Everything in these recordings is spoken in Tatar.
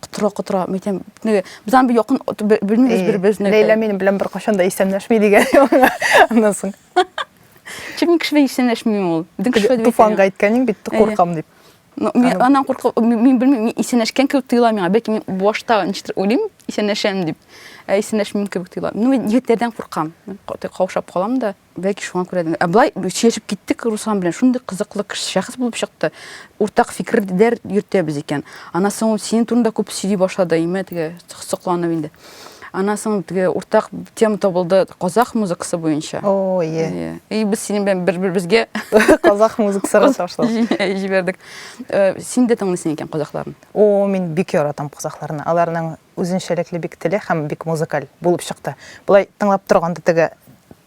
котыра котыра мин әйтәм без аны якын белмибез бер беребезне ләйлә минем белән беркайчан да исәнләшми дигән аннан соң чөнки мин кеше белән исәнләшмим ул безнең кеше туфанга әйткәнең бит куркам дип мин аннан куркып мин белмим мин исәнләшкән кебек тоела миңа бәлки мин башта ничектер уйлыйм исәнләшәм дип ә исәнләшмим кебек тоела ну мин егетләрдән куркам каушап калам да Бәлки шуңа күрә дә. Ә былай сөйләшеп киттек Руслан белән. Шундый кызыклы кеше, шәхес булып чыкты. Уртак фикерләр йөртәбез икән. Аннан соң ул синең турында күп сөйли башлады, име теге сокланып инде. Аннан соң теге уртак тема табылды казах музыкасы буенча. О, е. Иә. И без синең белән бер-беребезгә казах музыкасы ташлап җибәрдек. Син дә тыңлыйсың икән казахларны? О, мин бик яратам казахларны. Аларның Үзенчәлекле бик теле һәм бик музыкаль булып чыкты. Болай тыңлап торганда теге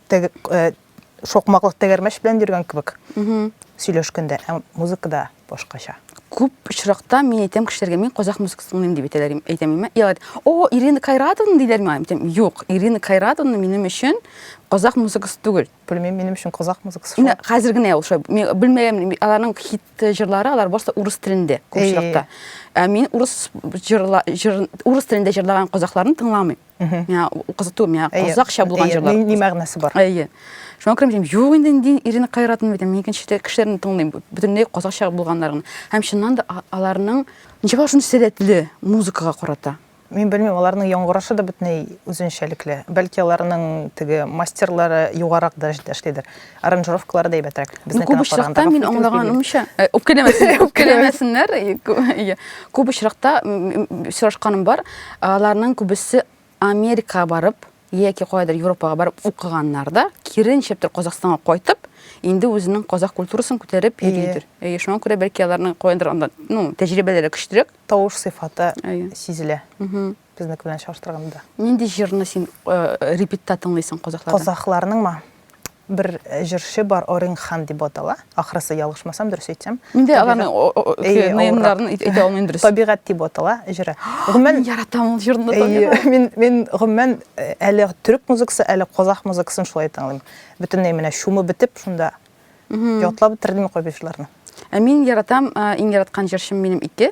теге э, шокмаклык тәгәрмәч белән йөргән кебек сөйләшкәндә, ә музыкада башкача. Күп очракта мин әйтәм кешеләргә, мин казах музыкасы тыңлыйм дип әйтәләр, әйтәм имә. Илар, о, Ирина Кайратовна диләр миңа. Әйтәм, юк, Ирина Кайратовна минем өчен казах музыкасы түгел. Белмим, минем өчен казах музыкасы шул. Хәзер генә ул шул. Мин белмәгән, аларның хит җырлары, алар барысы урыс телендә күпчелектә. Ә мин урыс җырла җыр урыс телендә җырлаган казахларны тыңламыйм. Миңа кызыту, миңа казахча булган җырлар. Ни мәгънәсе бар? Әйе. Шуңа күрә мин юк инде инде Ирина Кайратовна бит, мин икенче кешеләрне тыңлыйм, бөтенләй казахча булганнарын. Һәм чыннан да аларның ничек шундый сәләтле музыкага карата. Мин белмим, аларның яңгырашы да бөтенләй үзенчәлекле. Бәлки аларның теге мастерлары югарак дәрәҗәдә эшлидер. Аранжировкалары да әйбәтрәк. Ну, күп очракта мин аңлаганымча, үпкәләмәсеннәр, үпкәләмәсеннәр. Күп очракта сорашканым бар, аларның күбесе Америкага барып, яки каядыр Европага барып укыганнар да, киренчеп тор Казахстанга кайтып, инде үзенең казах культурасын күтәреп йөридер. Әйе, шуңа күрә бәлки аларның каяндыр анда, ну, тәҗрибәләре көчлерәк. Тавыш сыйфаты сизелә. Безнеке белән чагыштырганда. Нинди җырны син репетта тыңлыйсың казахларның? Казахларныңмы? Бер җырчы бар, Оринг Хан дип атала. Ахрысы, ялгышмасам, дөрес әйтсәм. Инде аларны наемнарын әйтә алмыйм дөрес. Табигать дип атала җыры. Гомумән яратам ул җырны табигать. Мин мин гомумән әле төрек музыкасы, әле казах музыкасын шулай тыңлыйм. Бөтенләй менә чумып бетеп, шунда ятлап бетердем кайбер җырларны. Ә мин яратам, иң яраткан җырчым минем ике.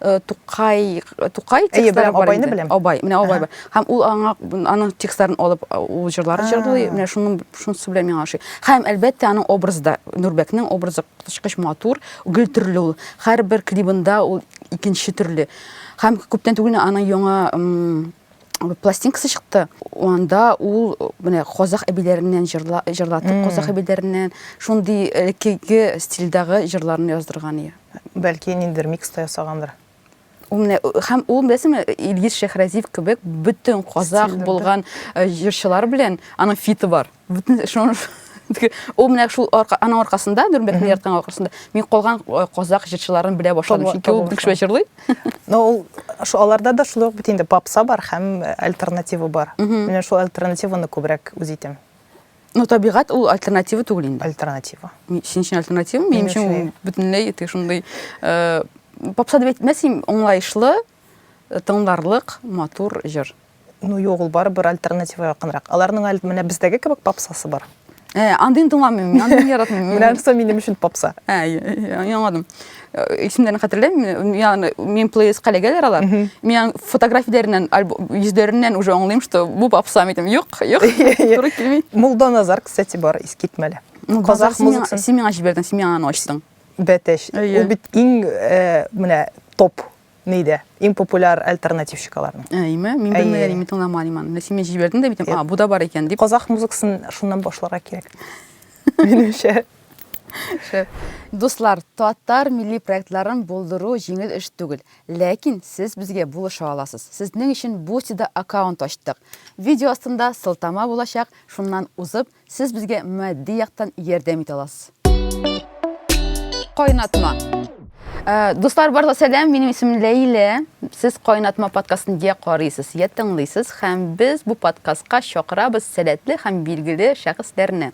э, Тукай, Тукай Әйе, текстлары беләм, бар Абайны инде. беләм. Абай, менә Абай бар. Һәм ул аңа аның текстларын алып а, ул җырлар җырлый, менә шуның шунысы белән миңа ошый. Һәм әлбәттә аның образы да Нурбәкнең образы коточкыч матур, гел төрле ул. Һәрбер клибында ул икенче төрле. Һәм күптән түгел аның яңа м, пластинкасы чыкты. Анда ул э, менә казах әбиләреннән җырла, җырлатып, казах әбиләреннән шундый элеккеге стильдагы җырларын яздырган иде. Бәлки, ниндидер микс та ясагандыр. Ул менә һәм ул беләсеңме, Илгиз Шәхразиев кебек бөтен казах булган э, җырчылар белән аның фиты бар. Бөтен шуны ул менә шул арка, аның аркасында Дүрмәтне ярткан аркасында мин калган э, казах җырчыларын белә башладым. Чөнки ул бик шулай җырлый. Но ул шу аларда да шулай ук бит инде попса бар һәм э, альтернатива бар. Менә шул альтернативаны күбрәк үз итәм. Ну, табигать ул альтернатива түгел инде. Альтернатива. Син өчен альтернатива, минем өчен ул бөтенләй тек шундый э, попса дип әйтмәсем, аңлаешлы, э, тыңларлык, матур җыр. Ну, юк, ул барыбер альтернатива якынрак. Аларның әле менә бездәге кебек попсасы бар. Э, андыйны тыңламыйм, мин андыйны яратмыйм. Менә соң минем өчен попса. Ә, яңадым. Э, исемнәрен хәтерләмим миңа мин плейлистка эләгәләр алар миңа фотографияләреннән йөзләреннән уже аңлыйм что бу попса әйтәм юк юк туры килми мулданазар кстати бар искитмәле казах музыкасын син миңа җибәрдең син миңа аны ачтың бәтәч ул бит иң э, менә топ Ни дә? Иң популяр альтернатив чикаларны. Әйме? Мин белмәгән, мин тыңламадым аны. Менә син мені җибәрдең дә битем, а, бу да бар икән дип. Казах музыкасын шуннан башларга кирәк. Минемчә. Шәп. Дуслар, татар милли проектларын булдыру җиңел эш түгел. Ләкин сез безгә булыша аласыз. Сезнең өчен Бусти-да аккаунт ачтык. Видео астында сылтама булачак, шуннан узып, Сез безгә матди яктан ярдәм итә аласыз. Кайнатма. Э, дуслар барлыгы сәлам, минем исемем Ләйлә. Сез Кайнатма подкастын я карыйсыз, я тыңлыйсыз һәм без бу подкастка чакырабыз сәләтле һәм билгеле шәхесләрне.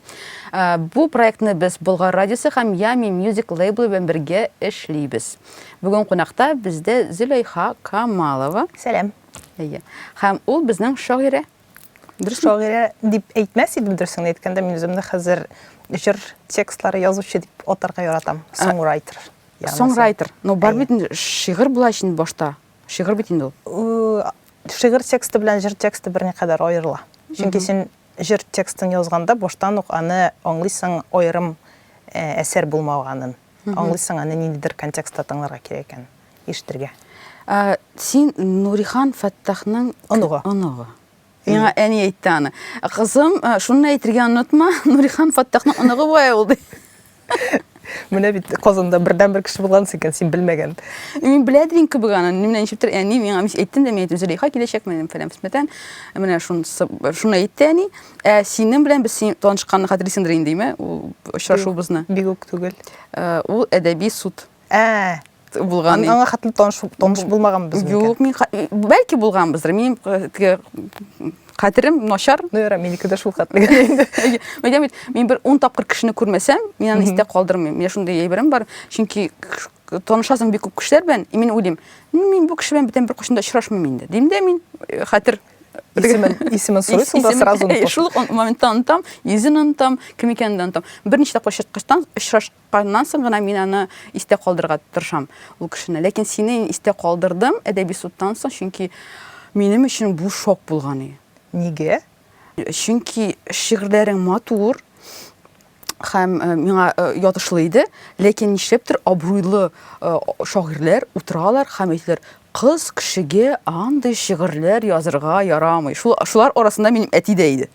Э, бу проектны без Болгар радиосы һәм Ями Music лейблы белән бергә эшлибез. Бүген кунакта бездә Зөләйха Камалова. Сәлам. Әйе. Һәм ул безнең шагыйрә. Дөрес шагыйрә дип әйтмәс идем, дөресен әйткәндә, мин үземне хәзер җыр текстлары язучы дип атарга яратам. Соңрайтер. Соңрайтер. Ну, бар бит шигырь була өчен башта. Шигырь бит инде ул. Шигырь тексты белән җыр тексты берникадәр аерыла. Чөнки син җыр текстын язганда баштан ук аны аңлыйсың аерым әсәр булмаганын. Аңлыйсың аны ниндидер контекстта тыңларга кирәк икән. ишетергә. Ә, син Нурихан Фәттахның оныгы. Оныгы. Миңа әни әйтте аны. Кызым, шуны әйтергә онытма, Нурихан Фәттахның оныгы була ул ди. Менә бит Казанда бердән бер кеше булган икән, син белмәгән. Мин белә идем кебек аны. Менә ничектер әни миңа әйтте дә, мин әйттем, Зөләйха киләчәк менә фәлән фәлән. Менә шунысы, шуны әйтте әни. Ә синең белән без син танышканны хәтерлисеңдер инде, име? Ул очрашуыбызны. Бигүк түгел. Ул әдәби суд. булган аңа хәтле таныш таныш булмаганбыз юк мин бәлки булганбыздыр мин теге хәтерем начар ну яра минеке дә шул хәтле әйтәм бит мин бер ун тапкыр кешене күрмәсәм мин аны истә калдырмыйм менә шундый әйберем бар чөнки танышасың бик күп кешеләр белән и мин уйлыйм мин бу кеше белән бүтән беркайчан да очрашмыйм инде дим дә мин хәтер исемен исемен сорыйсың да сразу шул ук моментта онытам йөзен онытам кем икәнен дә онытам берничә тапкыр очраткачтан Аннан соң гына мин аны истә калдырырга тырышам, ул кешене. Ләкин сине мин истә калдырдым әдәби судтан соң, чөнки минем өчен бу шок булган иде. Нигә? Чөнки шигырьләрең матур һәм э, миңа э, ятышлы иде, ләкин нишләптер абруйлы э, шагыйрьләр утыралар һәм әйтәләр, кыз кешегә андый шигырьләр язырга ярамый. Шул, шулар арасында минем әти дә иде.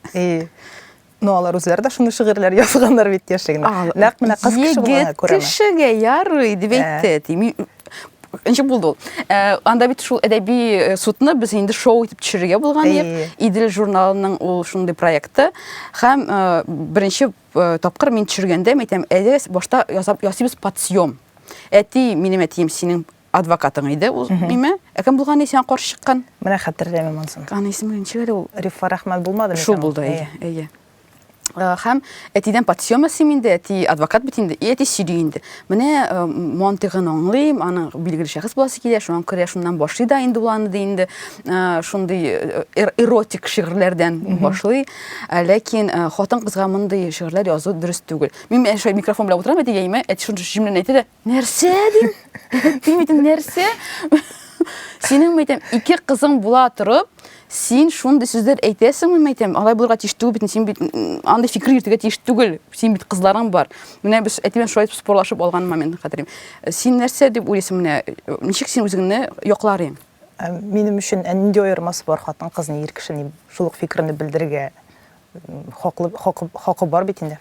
Ну, алар үзләре дә шундый шигырьләр язганнар бит яшьлегендә. Нәкъ менә кыз кеше булган күрәме? Кешегә ярый дип әйтте. Тими ничек булды ул? Э, анда бит шул әдәби э, судны без инде шоу итеп төшерергә булган идек. Идел журналының ул шундый проекты. Һәм э, беренче тапкыр мин төшергәндә, мен әйтәм, әйдә башта ясап ясыйбыз подсъем. Әти, минем әтием синең Адвокатың иде ул ниме? Ә кем булган исән сиңа каршы чыккан? Менә хәтерләмим ансын. Аны исеме ничек әле ул? Рифа Рахман булмадымы? Шул булды, әйе, әйе. Хәм әтидән подсъема сим инде, әти адвокат бит инде, и әти сөйли инде. Менә мантыгын аңлыйм, аны билгеле шәхес буласы килә, шуңа күрә шуннан башлый да инде уланы ди инде. Шундый эротик шигырьләрдән башлый. Ләкин хатын кызга мондый шигырьләр язу дөрес түгел. Мин әшәй микрофон белән утырам әти яймә, әти шундый җимләнә әйтә дә, Нәрсә дим? Дим идем, нәрсә? Синең мәйтәм, ике кызың була торып, син шундый сүзләр әйтәсеңме мәйтәм? Алай булырга тиеш түгел бит, син бит андый фикер йөртергә тиеш түгел. Син бит кызларың бар. Менә без әтимен шулай спорлашып алган момент хәтерим. Син нәрсә дип уйлыйсың менә? Ничек син үзеңне яклар идең? Ә, минем өчен ә нинди аермасы бар хатын кызны ир кешене шул ук фикерне белдергә хакы хакы бар бит инде.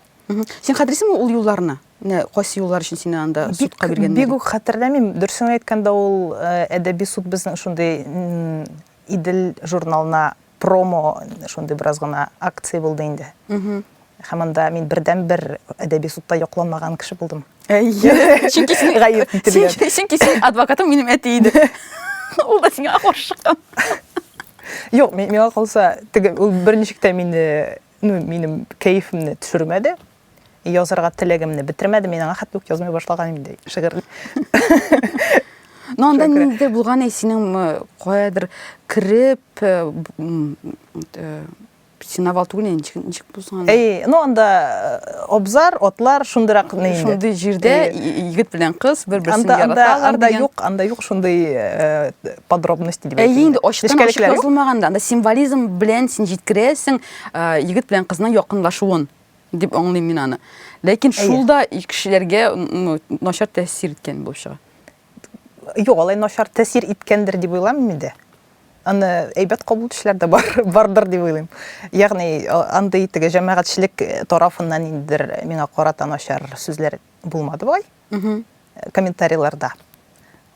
Син хәтерлисеңме ул юлларны? Менә кайсы юллар өчен сине анда судка биргәннәр? Бик үк хәтерләмим. Дөресен әйткәндә, ул э, әдәби суд безнең шундый Идел журналына промо шундый бераз гына акция булды инде. Һәм анда мин бердәнбер әдәби судта якланмаган кеше булдым. Әйе. Чөнки син гаеп ителгән. Чөнки син адвокатым минем әти иде. Ул да сиңа каршы чыккан. Юк, миңа калса, теге ул берничек тә мине Ну, минем кәефемне төшермәде. Язарга теләгемне бетермәде. Мин аңа хәтта үк язмый башлаган инде шигырь. Ну, анда ниндидер булган әйсинең э, каядыр кереп, э, э, синовал түгел инде ничек ничек бузган әй ну анда э, абзар атлар шундыйрак инде шундый җирдә егет белән кыз бер берсен анда анда анда юк анда юк шундый э, подробности дип әйтә. Әйе, инде ачыктан ачык язылмаганда, анда символизм белән син җиткерәсең э, егет белән кызның якынлашуын дип аңлыйм мин аны. Ләкин шул да кешеләргә начар тәэсир иткән булып чыга. Юк, алай начар тәэсир иткәндер дип уйламыйм инде. Аны әйбәт кабул итүчеләр дә бар, бардыр дип уйлыйм. Ягъни андый теге җәмәгатьчелек тарафыннан индер миңа карата начар сүзләр булмады бугай. комментарийларда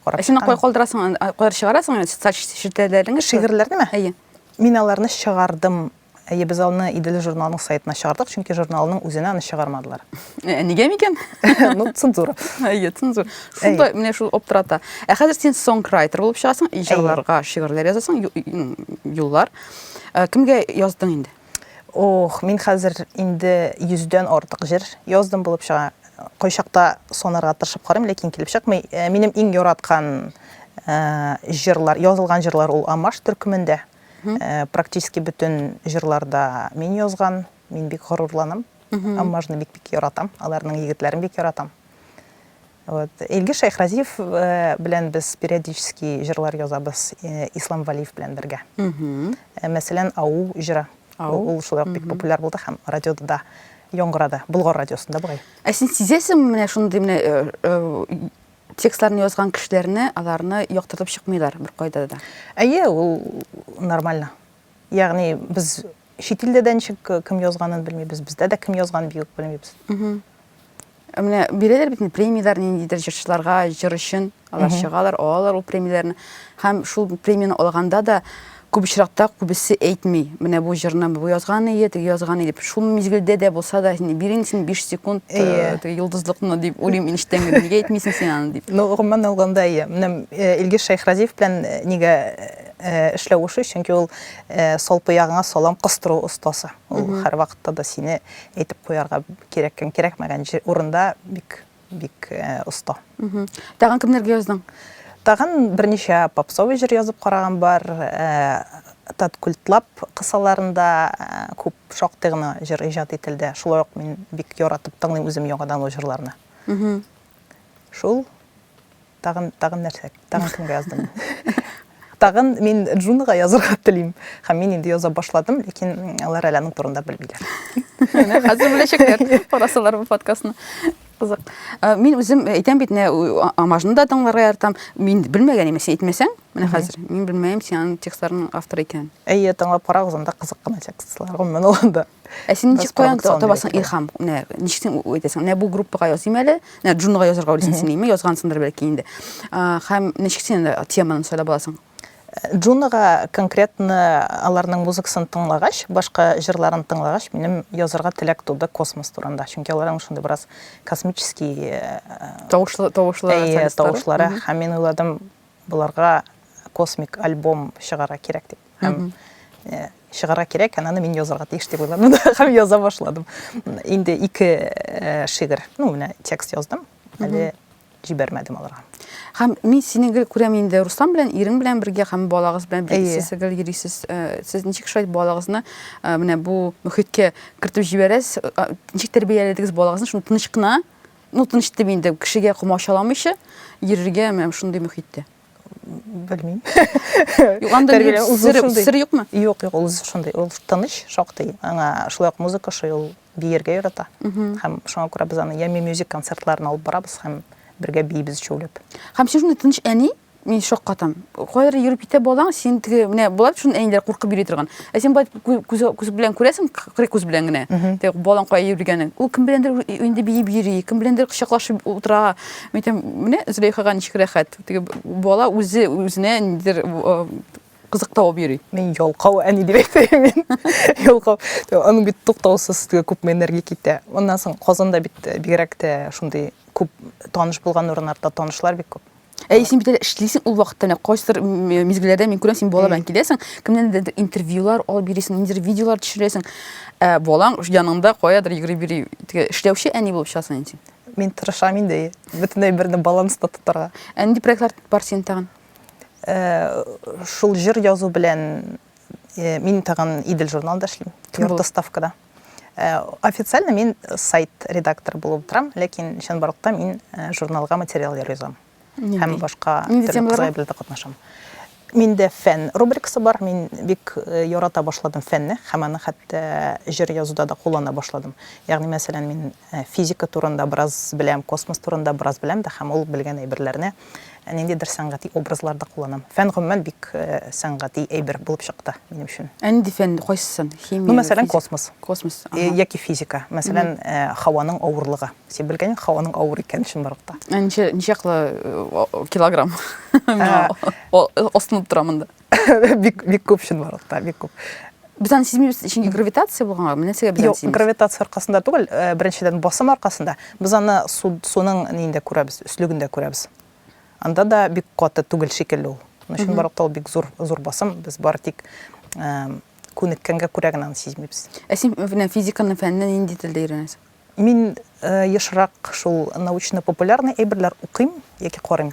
карап чыккан. Син кая калдырасың, кая чыгарасың социаль челтәрләреңә? Шигырьләрнеме? Әйе. Мин аларны чыгардым. Әйе, без аны Идел журналының сайтына чыгардык, чөнки журналның үзенә аны чыгармадылар. Ә нигә микән? Ну, цензура. Әйе, цензура. Шунда менә шул оптырата. Ә хәзер син сонграйтер булып чыгасың, җырларга шигырьләр язасың, юллар. Кемгә яздың инде? Ох, мин хәзер инде йөздән артык җыр яздым булып чыга. Кайчакта санарга тырышып карыйм, ләкин килеп чыкмый. Э, минем иң яраткан э, җырлар, язылган җырлар ул Амаш төркемендә. Э, практически бөтен җырларда мин язган, мин бик горурланам. Амашны бик-бик яратам, аларның егетләрен бик яратам. Вот. Илгиз Шәйхразиев белән без периодически җырлар язабыз Ислам Валиев белән бергә. Мәсәлән, Ау җыры. Ул шулай бик популяр булды һәм радиода да яңгырады. Болгар радиосында бугай. Ә син сизәсеңме менә шундый менә э, э, текстларны язган кешеләрне, аларны яктыртып чыкмыйлар бер кайда да? Әйе, ул нормально. Ягъни без чит илдә дә ничек кем язганын белмибез, бездә дә кем язган бию белмибез. Менә бирәләр бит премияләр ниндидер җырчыларга, җыр өчен алар чыгалар, алалар ул премияләрне. Һәм шул премияне алганда да күп очракта күбесе әйтми. Менә бу җырны бу язган ие, теге язган ие дип. Шул мизгелдә дә булса да, син бирин син 5 секунд э, теге юлдызлыкны дип уйлыйм инештән генә. Нигә әйтмисең син аны дип. Ну, гомумән алганда ие. Менә э, Илгиз Шайхразиев белән э, нигә эшләвеше, чөнки ул салпыягыңа салам кыстыру остасы. Ул һәрвакытта да сине әйтеп куярга кирәк һәм кирәкмәгән урында бик бик оста. Тагын кемнәргә яздың? Тагын берничә попсовый җыр язып караган бар. Тат культлап кысаларында күп шактый гына җыр иҗат ителде. Шулай ук мин бик яратып тыңлыйм үзем яңадан ул җырларны. Шул. Тагын, тагын нәрсә? Тагын кемгә яздым мин? Тагын мин Джунга язырга телим. Һәм мин инде яза башладым, ләкин алар әле аның турында белмиләр. Менә хәзер беләчәкләр, карасалар бу подкастны. Кызык. Ә, Мин үзем әйтәм бит, менә у- а- Амажны да тыңларга яратам. Мин белмәгән имеш, син әйтмәсәң, менә хәзер. Мин белмәем, син аның текстларының авторы икәнен. Әйе, тыңлап карагыз, анда кызык кына текстлар, гомумән алганда. Ә син ничек каян табасың илһам? Менә ничек син әйтәсең? Менә бу группага языйм әле. Менә Джунга язарга уйлыйсың син, әйме? Язгансыңдыр бәлки инде. Һәм ничек син теманы сайлап аласың? Джунага конкретно аларның музыкасын тыңлагач, башка җырларын тыңлагач, минем язарга теләк туды космос турында. Чөнки аларның шундый бераз космический э, тавышлы тавышлы тавышлары һәм мин уйладым, Боларга космик альбом чыгарга кирәк дип. Һәм э, чыгарга кирәк, һәм аны мин язарга тиеш дип уйладым да, һәм яза башладым. Инде ике э, шигырь, ну, менә текст яздым, әле җибәрмәдем аларга. Һәм мин сине гел күрәм инде Руслан белән, ирең белән бергә һәм балагыз белән бергә сез гел йөрисез. Э, сез ничек шулай балагызны э, менә бу мөхиткә кертеп җибәрәсез? Э, ничек тәрбияләдегез балагызны? Шуны тыныч кына Ну, тыныч дип инде кешегә комачаламыйча йөрергә менә шундый мөхиттә. Белмим. Юк, анда сер юкмы? Юк, юк, ул шундый. Ул тыныч, шактый. Аңа шулай ук музыка шуй ул биергә ярата. Һәм шуңа күрә без аны Ями мюзик концертларын алып барабыз һәм бергә биибез өчәүләп. Һәм сез шундый тыныч әни, Мин шаккатам. Кайры йөреп китә балаң, син теге менә була бит шуны әниләр куркып йөри торган. Ә син бай күз күз белән күрәсең, кырый күз белән генә. Теге балаң кая йөргәнен. Ул кем беләндер инде биеп йөри, кем беләндер кочаклашып утыра. Мин әйтәм, менә Зөләйхага ничек рәхәт. Теге бала үзе үзенә нидер кызык табып йөри. Мин ялкау әни дип әйтәм мин. Ялкау. Аның бит туктаусыз теге күпме энергия китә. Аннан соң Казанда бит бигрәк тә шундый күп таныш булган урыннарда танышлар бик күп. Әй, син бит әле эшлисең ул вакытта менә кайсыдыр мизгелләрдә мин күрәм, син бала белән киләсең, кемнәндер интервьюлар алып бирисең, ниндидер видеолар төшерәсең. Ә балаң яныңда каядыр йөгереп йөри, эшләүче әни булып чыгасың инде син. Мин тырышам инде, бөтенләй берне баланста тотарга. Ә нинди проектлар бар синең тагын? Э, шул җыр язу белән э, мин тагын Идел журналында эшлим. Ярты ставкада. Э, официально мин сайт редактор булып торам, ләкин чынбарлыкта мин э, журналга материаллар язам. Һәм башка төрле белдә катнашам. Миндә фән рубрикасы бар. Мин бик э, ярата башладым фәнне, һәм аны хәтта җыр язуда да куллана башладым. Ягъни, мәсәлән, мин физика турында бераз беләм, космос турында бераз беләм дә, һәм ул белгән әйберләрне Ә ниндидер сәнгати образлар да кулланам. Фән гомумән бик сәнгати әйбер булып чыкты минем өчен. Ә нинди фән кайсысын? Химия. Ну, мәсәлән, космос. Космос. Яки физика. Мәсәлән, һаваның авырлыгы. Син белгән инде һаваның авыр икәнен чынбарлыкта. Ә ничә ничә килограмм? Астынып тора монда. бик бик күп чынбарлыкта бик күп без аны сизмибез чөнки гравитация булганга менә нәрсәгә без аны сизмибез гравитация аркасында түгел э, беренчедән басым аркасында без аны суның нинде күрәбез өслегендә күрәбез анда да бик каты түгел шикелле ул чынбарлыкта ул бик зур зур басым без бары тик э, күнеккәнгә күрә генә аны сизмибез ә син менә физиканың фәненә нинди телдә өйрәнәсең мин э, ешрак шул научно популярный әйберләр укыйм яки карыйм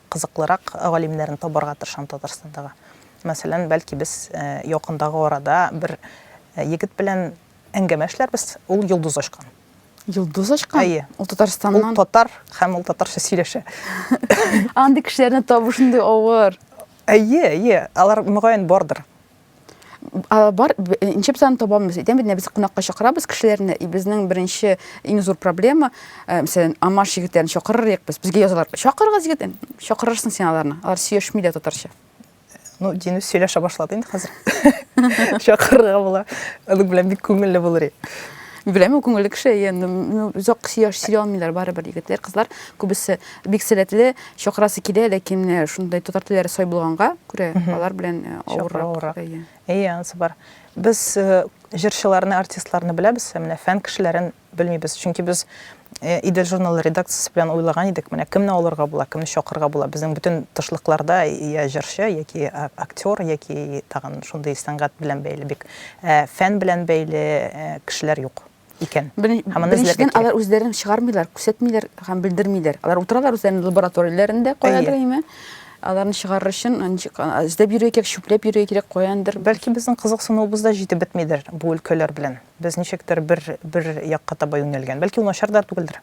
кызыклырак галимнәрне табарга тырышам Татарстандагы. Мәсәлән, бәлки без якындагы арада бер егет белән әңгәмә эшләрбез, ул йолдыз ачкан. Йолдыз ачкан? Әйе. Ул Татарстаннан. Ул татар һәм ул татарча сөйләшә. Андый кешеләрне табу шундый авыр. Әйе, әйе, алар мөгаен бардыр. бар нче бизаны табамыз әйтәм бит без кунакка чакырабыз кешеләрне и безнең беренче иң зур проблема э, мәсәлән амаш егетләрен чакырырык без безгә язалар чакырыгыз егет чакырырсың син аларны алар сөешми дә татарча ну динү сөйләшә башлады инде хәзер чакырырга була аның белән бик күңелле булыр беләм күңелле кеше енді ну зак сөйләмиләр барыбер егетләр кызлар күбесе бик сәләтле Чакырасы килә, ләкин менә шундый татар телләре сай булганга күрә, алар белән авыррак. Әйе, анысы бар. Без җырчыларны, артистларны беләбез, ә менә фән кешеләрен белмибез. Чөнки без Идел журналы редакциясе белән уйлаган идек, менә кемне алырга була, кемне чакырырга була. Безнең бөтен тышлыкларда я җырчы, яки актер, яки тагын шундый сәнгать белән бәйле бик, фән белән бәйле кешеләр юк. икән. Беренчедән алар үзләрен чыгармыйлар, күрсәтмиләр һәм белдермиләр. Алар утыралар үзләренең лабораторияләрендә каядыр әйме. Аларны чыгарыр өчен эзләп йөрергә кирәк, чүпләп йөрергә кирәк каяндыр. Бәлки безнең кызыксынуыбыз да җитеп бетмидер бу өлкәләр белән. Без ничектер бер бер якка таба юнәлгән. Бәлки ул начар да түгелдер.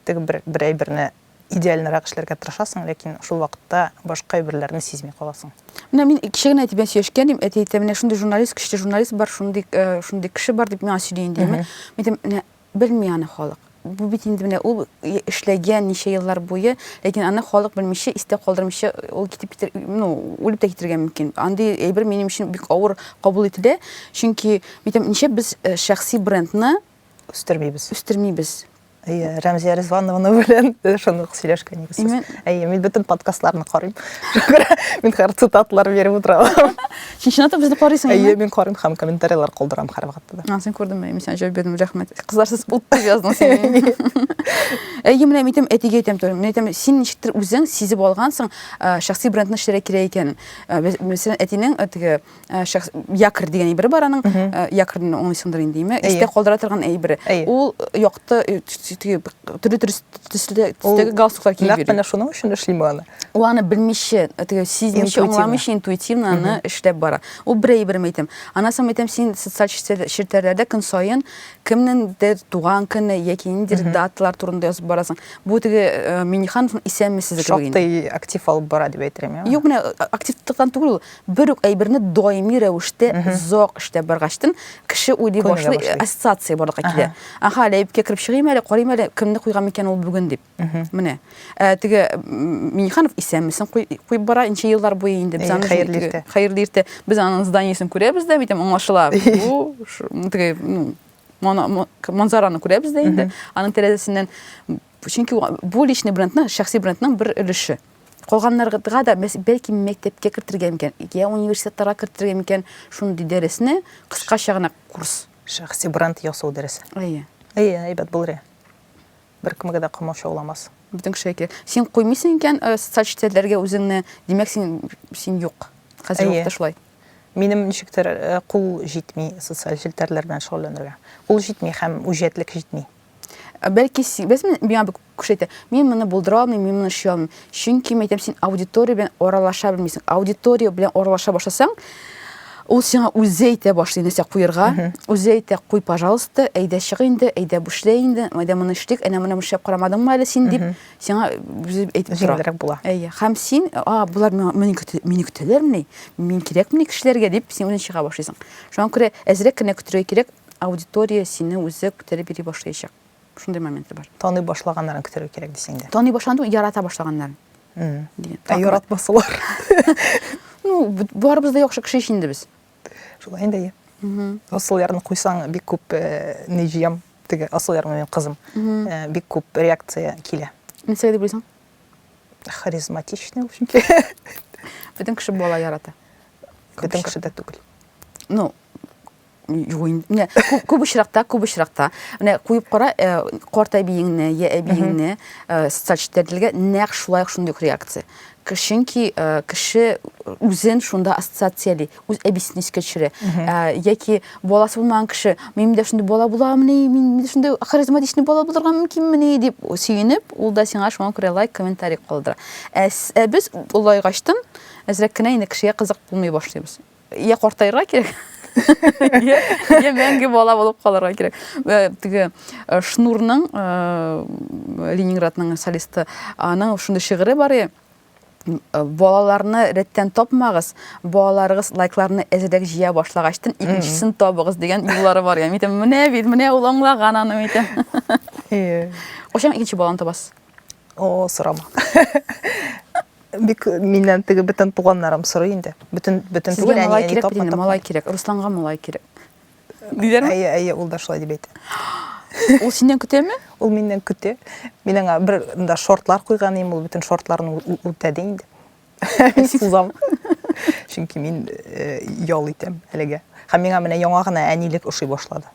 Теге бер бер әйберне Идеальнырак эшләргә тырышасың, ләкин шул вакытта башка әйберләрне сизми каласың. Менә мин кичә генә әти белән сөйләшкән идем, әти әйтә, менә шундый журналист, көчле журналист бар, шундый, э, шундый кеше бар дип миңа сөйли инде. Мин әйтәм, менә белми аны халык. Бу бит инде менә ул эшләгән ничә еллар буе, ләкин аны халык белмичә, истә калдырмыйча ул китеп китер, ну, үлеп тә китергә мөмкин. Андый әйбер минем өчен бик авыр кабул ителә, чөнки мин әйтәм, ничә без э, шәхси брендны үстермибез. Үстермибез. Әйе, Рәмзия Ризвановна белән шуны ук сөйләшкән идек. Мин... Әйе, мин бөтен подкастларны карыйм. мин хәр цитатлар биреп утырам. Син чынлап та безне карыйсың? Әйе, мин карыйм һәм комментарийлар калдырам һәрвакытта да. Син күрдеңме? Мин сиңа җавап бирдем, рәхмәт. Кызлар сез ут дип яздың син. Әйе, менә мин әйтәм, әтигә әйтәм туры. Мин әйтәм, син ничектер үзең сизеп алгансың, шәхси брендны эшләргә кирәк икәнен. Мәсәлән, әтинең теге Э, шәхс якорь дигән әйбер бар аның э, якорьны уңайсыңдыр инде име истә калдыра торган әйбере ул э, якты төрле төстәге галстуклар киеп йөри менә шуның өчен эшлиме аны ул аны белмичә теге сизмичә аңламыйча интуитивно аны эшләп бара ул бер әйберем әйтәм анасам әйтәм син социаль челтәрләрдә көн саен кемнеңдер туган көне яки ниндидер даталар турында язып барасың бу теге минихановның исәнмесез шактый актив алып бара дип әйтер идем юк менә активлыктан түгел ул Бер үк әйберне даими рәвештә озак эштә баргачтын, кеше уйлый башлый, ассоциация барлыкка килә. Аха, әле әйбкә кереп чыгыйм әле, карыйм әле, кемне куйган микән ул бүген дип. Менә. Ә теге Миниханов исәнмесен куеп бара, ничә еллар буе инде без аны хәерле иртә. Хәерле иртә. Без аның зданиесен күрәбез дә, бит аңлашыла. Бу теге, ну, манзараны күрәбез дә инде. Аның тәрәзәсеннән чөнки бу личный брендның, шәхси брендның бер өлеше. калганнарга да бәлки мәктәпкә кертергә микән, я университетларга кертергә микән шундый дәресне, кыскача гына курс. Шәхси бренд ясау дәресе. Әйе. Әйе, әйбәт булыр. Беркемгә дә камаушауламас. Бөтен кешегә кирәк. Син куймыйсың икән э, социаль челтәрләргә үзеңне, димәк син син юк. Хәзер вакытта шулай. Минем ничектер э, кул җитми социаль челтәрләр белән шөгыльләнергә. Кул җитми һәм үҗәтлек җитми. Ә бәлки син, без миңа бик күшәйтә. Мин моны булдыра алмыйм, мин моны эшли алмыйм. Чөнки мин әйтәм, син аудитория белән аралаша белмисең. Аудитория белән аралаша башласаң, ул сиңа үзе әйтә башлый нәрсә куерга, үзе әйтә, куй, пожалуйста, әйдә чык инде, әйдә бушлай инде, әйдә моны эшлик, әнә моны эшләп карамадыңмы әле син дип, сиңа үзе әйтеп тора. Җиңелрәк була. Әйе. Һәм син, а, булар мине көтәләрмени, мин кирәкмени кешеләргә дип, син үзең чыга башлыйсың. Шуңа күрә әзрәк кенә көтергә кирәк, Аудитория сине үзе күтәреп йөри башлаячак. Шундый моменты бар. Таный башлаганнарын көтәргә кирәк дисең дә. Таный башлаган, ярата башлаганнарын. Ә яратмасалар? Ну, барыбыз да яхшы кеше ич инде без. Шулай инде, иә. Асылъярны куйсаң, бик күп э, не җыям, теге Асылъяр минем кызым. Э, бик күп реакция килә. Нәрсәгә дип уйлыйсың? Харизматичный ул чөнки. Бөтен кеше бала ярата. Бөтен кеше дә түгел. Ну, Юк инде. Күп очракта, күп очракта. Менә куеп кара, э, карт әбиеңне, я әбиеңне, э, социаль челтәрдәге нәкъ шулай ук шундый реакция. Чөнки э, кеше үзен шунда ассоциацияли, үз әбисен искә төшерә. Э, яки баласы булмаган кеше, мин дә шундый бала буламыни, мин дә шундый харизматичный бала булырга мөмкинмени дип сөенеп, ул да сиңа шуңа күрә лайк, комментарий калдыра. Ә, ә без олайгачтан әзрәк кенә инде кешегә кызык булмый башлыйбыз. Йә картаерга кирәк, йә мәңге бала булып калырга кирәк. Э, теге э, Шнурның, э, Ленинградның солисты, аның шундый шигыре бар е, балаларны рәттән тапмагыз, балаларыгыз лайкларны әзерәк җыя башлагачтын икенчесен табыгыз дигән юллары бар. Ям итәм, менә бит, менә ул аңлаган аны итәм. Кочан икенче баланы табасыз? О, сорама. Бик миннән теге бөтен туганнарым сорый инде. Бөтен бөтен Сезгә түгел, малай әни кирәк тапма, бит инде, тапма. малай кирәк. Русланга малай кирәк. Диләрме? Әйе, әйе, ул да шулай дип әйтә. Ул синнән көтәме? Ул миннән көтә. Мин аңа бер да шортлар куйган идем, ул бөтен шортларны ү- ү- үтәде инде. Мин сузам. Чөнки мин э, ял итәм әлегә. Һәм миңа менә яңа гына әнилек ошый башлады.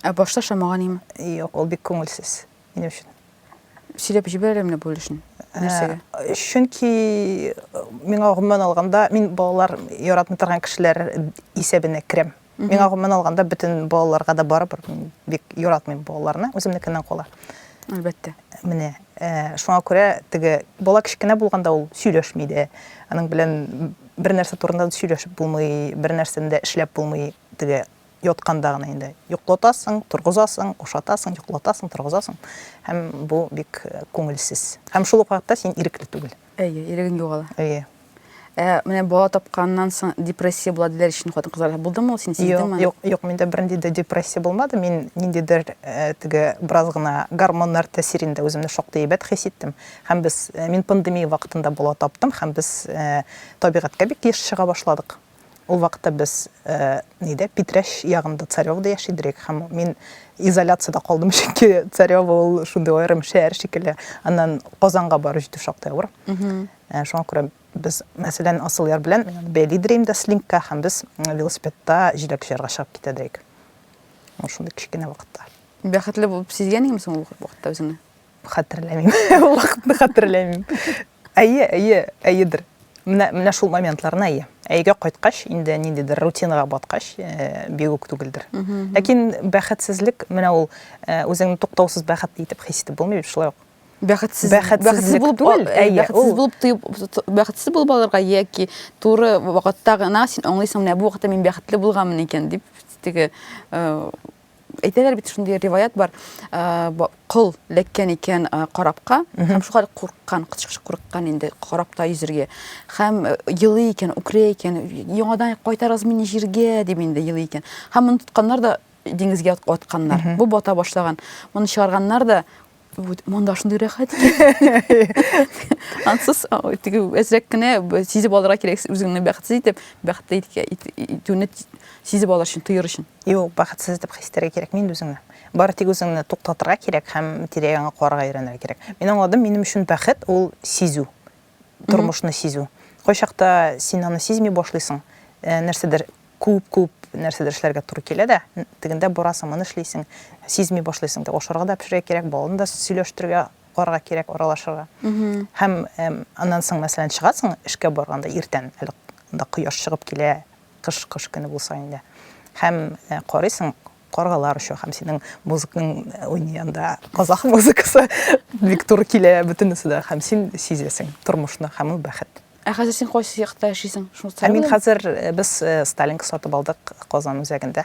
Ә башта шамаган име? Юк, ул бик күңелсез минем өчен. Сөйләп җибәр әле менә бүлешен. Нәрсәгә? Ә, чөнки миңа гомумән алганда, мин балалар яратмый торган кешеләр исәбенә керәм. Миңа гомумән алганда бөтен балаларга да барыбер мин бик яратмыйм балаларны, үземнекеннән кала. Әлбәттә. Менә ә, шуңа күрә теге бала кечкенә булганда ул сөйләшми дә. Аның белән бер нәрсә турында да сөйләшеп булмый, бер нәрсәне дә эшләп булмый. Теге Ятканда гына инде йоклатасың, торгызасың, ашатасың, йоклатасың, торгызасың. Һәм бу бик күңелсез. Һәм шул ук вакытта син ирекле түгел. Әйе, ирегең югала. Әйе. Ә менә бала тапканнан соң депрессия була диләр ичен хатын кызлар. Булдымы ул син сиздеңме? Юк, юк, юк, миндә бернинди дә депрессия булмады. Мин ниндидер э, теге бераз гына гормоннар тәэсирендә үземне шактый әйбәт хис иттем. Һәм без э, мин пандемия вакытында бала таптым һәм без э, табигатькә бик еш чыга башладык. Ул вакытта без нидә, Питрәч ягында, Царевода яши идек һәм мин изоляциядә калдым, чөнки Царево ул шундый аерым шәһәр шикелле. Аннан Казанга барып җитү шактый авыр. Шуңа күрә без, мәсәлән, Асылъяр белән бәйли идек инде слинкка һәм без велосипедта җиләк җыярга чыгып китә идек. Ул шундый кечкенә вакытта. Бәхетле булып сизгән идеңме соң ул вакытта үзеңне? Хәтерләмим. Ул вакытны хәтерләмим. Әйе, әйе, әйедер. Менә, менә шул моментларына әйе. Әйгә кайткач, инде ниндидер рутинага баткач, э, бигүк түгелдер. Ләкин бәхетсезлек, менә ул э, үзеңне туктаусыз бәхетле итеп хис итеп булмый бит шулай ук. Бәхетсез, бәхетсез булып түгел, э, әйе, бәхетсез булып тоеп, бәхетсез булып алырга яки туры вакытта гына син аңлыйсың, менә бу вакытта мин бәхетле булганмын икән дип, теге э, әйтәләр бит шундый риваят бар кол ләккән икән карапка һәм шулай курыккан курыккан инде карапта йөзергә һәм елый икән үкерә икән яңадан кайтарыгыз мине җиргә дип инде елый икән һәм моны тотканнар да диңгезгә атканнар бу бата башлаган моны чыгарганнар да Вот, монда шундый рәхәт. Ансыз теге әзрәк кенә сизеп алырга кирәк үзеңне бәхетсез итеп, бәхетле итүне сизеп алыр өчен, тоер өчен. Юк, бәхетсез итеп хис итәргә кирәк мин үзеңне. Бары тик үзеңне туктатырга кирәк һәм тирә-ягыңа карарга өйрәнергә кирәк. Мин аңладым, минем өчен бәхет ул сизү. тормышны сизү. Кайчакта син аны сизми башлыйсың, э, нәрсәдер күп-күп нәрсәдер эшләргә туры килә дә, тегендә барасың, моны эшлисең, сизми башлыйсың да, ашарга да пешерә кирәк, балны да сөйләштерергә, карга кирәк, аралашырга. Һәм аннан соң, мәсәлән, чыгасың эшкә барганда иртән, әле да кояш чыгып килә, Кыш кыш көне булса инде. Һәм карыйсың, каргалар оча һәм синең музыкның уйный анда казах музыкасы бик туры килә бөтенесе дә һәм син сизәсең тормышны һәм ул бәхет. Ә хәзер син кайсы якта яшисең? Шуны Ә мин хәзер без Сталинка сатып алдык Казан үзәгендә.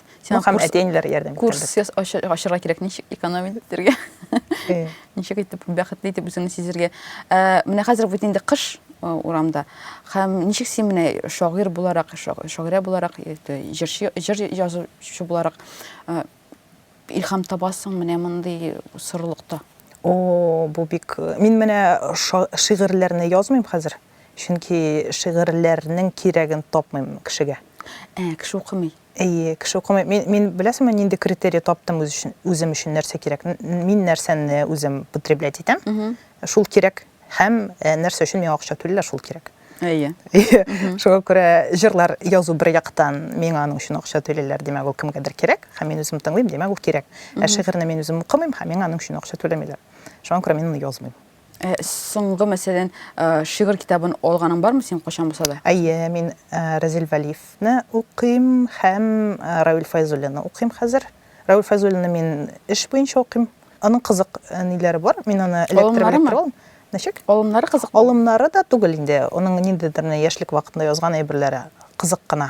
Сиңа ну, һәм курс, әтиәниләр ярдәм курс итәрлек. Курс ачырга кирәк, ничек экономить итәргә? Э. Ничек итеп бәхетле итеп үзеңне сизергә? Э, менә хәзер бит инде кыш э, урамда. Һәм ничек син менә шагыйрь буларак, шагыйрә буларак, җырчы, җыр язучы буларак илһам табасың менә мондый сорылыкта? О, бу бик... Мин менә шигырьләрне язмыйм хәзер. Чөнки шигырьләрнең кирәген тапмыйм кешегә. Ә, кеше укымый. Әйе, кеше укымый. Мин, мин беләсеңме, нинди критерий таптым үз өчен, үзем өчен нәрсә кирәк? Мин нәрсәне үзем потреблять итәм, шул кирәк. Һәм э, нәрсә өчен миңа акча түлиләр, шул кирәк. Әйе. Шуңа күрә җырлар язу бер яктан миңа аның өчен акча түлиләр, димәк, ул кемгәдер кирәк, һәм мин үзем тыңлыйм, димәк, ул кирәк. Ә шигырьне мин үзем укымыйм, һәм миңа аның өчен акча түләмиләр. Шуңа күрә мин аны язмыйм. Ә соңгы, мәсәлән, шигырь китабын алганың бармы синең кайчан булса да? Әйе, мин Разил Вәлиевне укыйм һәм Равил Файзуллинны укыйм хәзер. Равил Файзуллинны мин эш буенча укыйм. Аның кызык ниләре бар, мин аны эләктереп-эләктереп Ничек? Алымнары кызык. Алымнары да түгел инде, аның ниндидер менә яшьлек вакытында язган әйберләре кызык кына.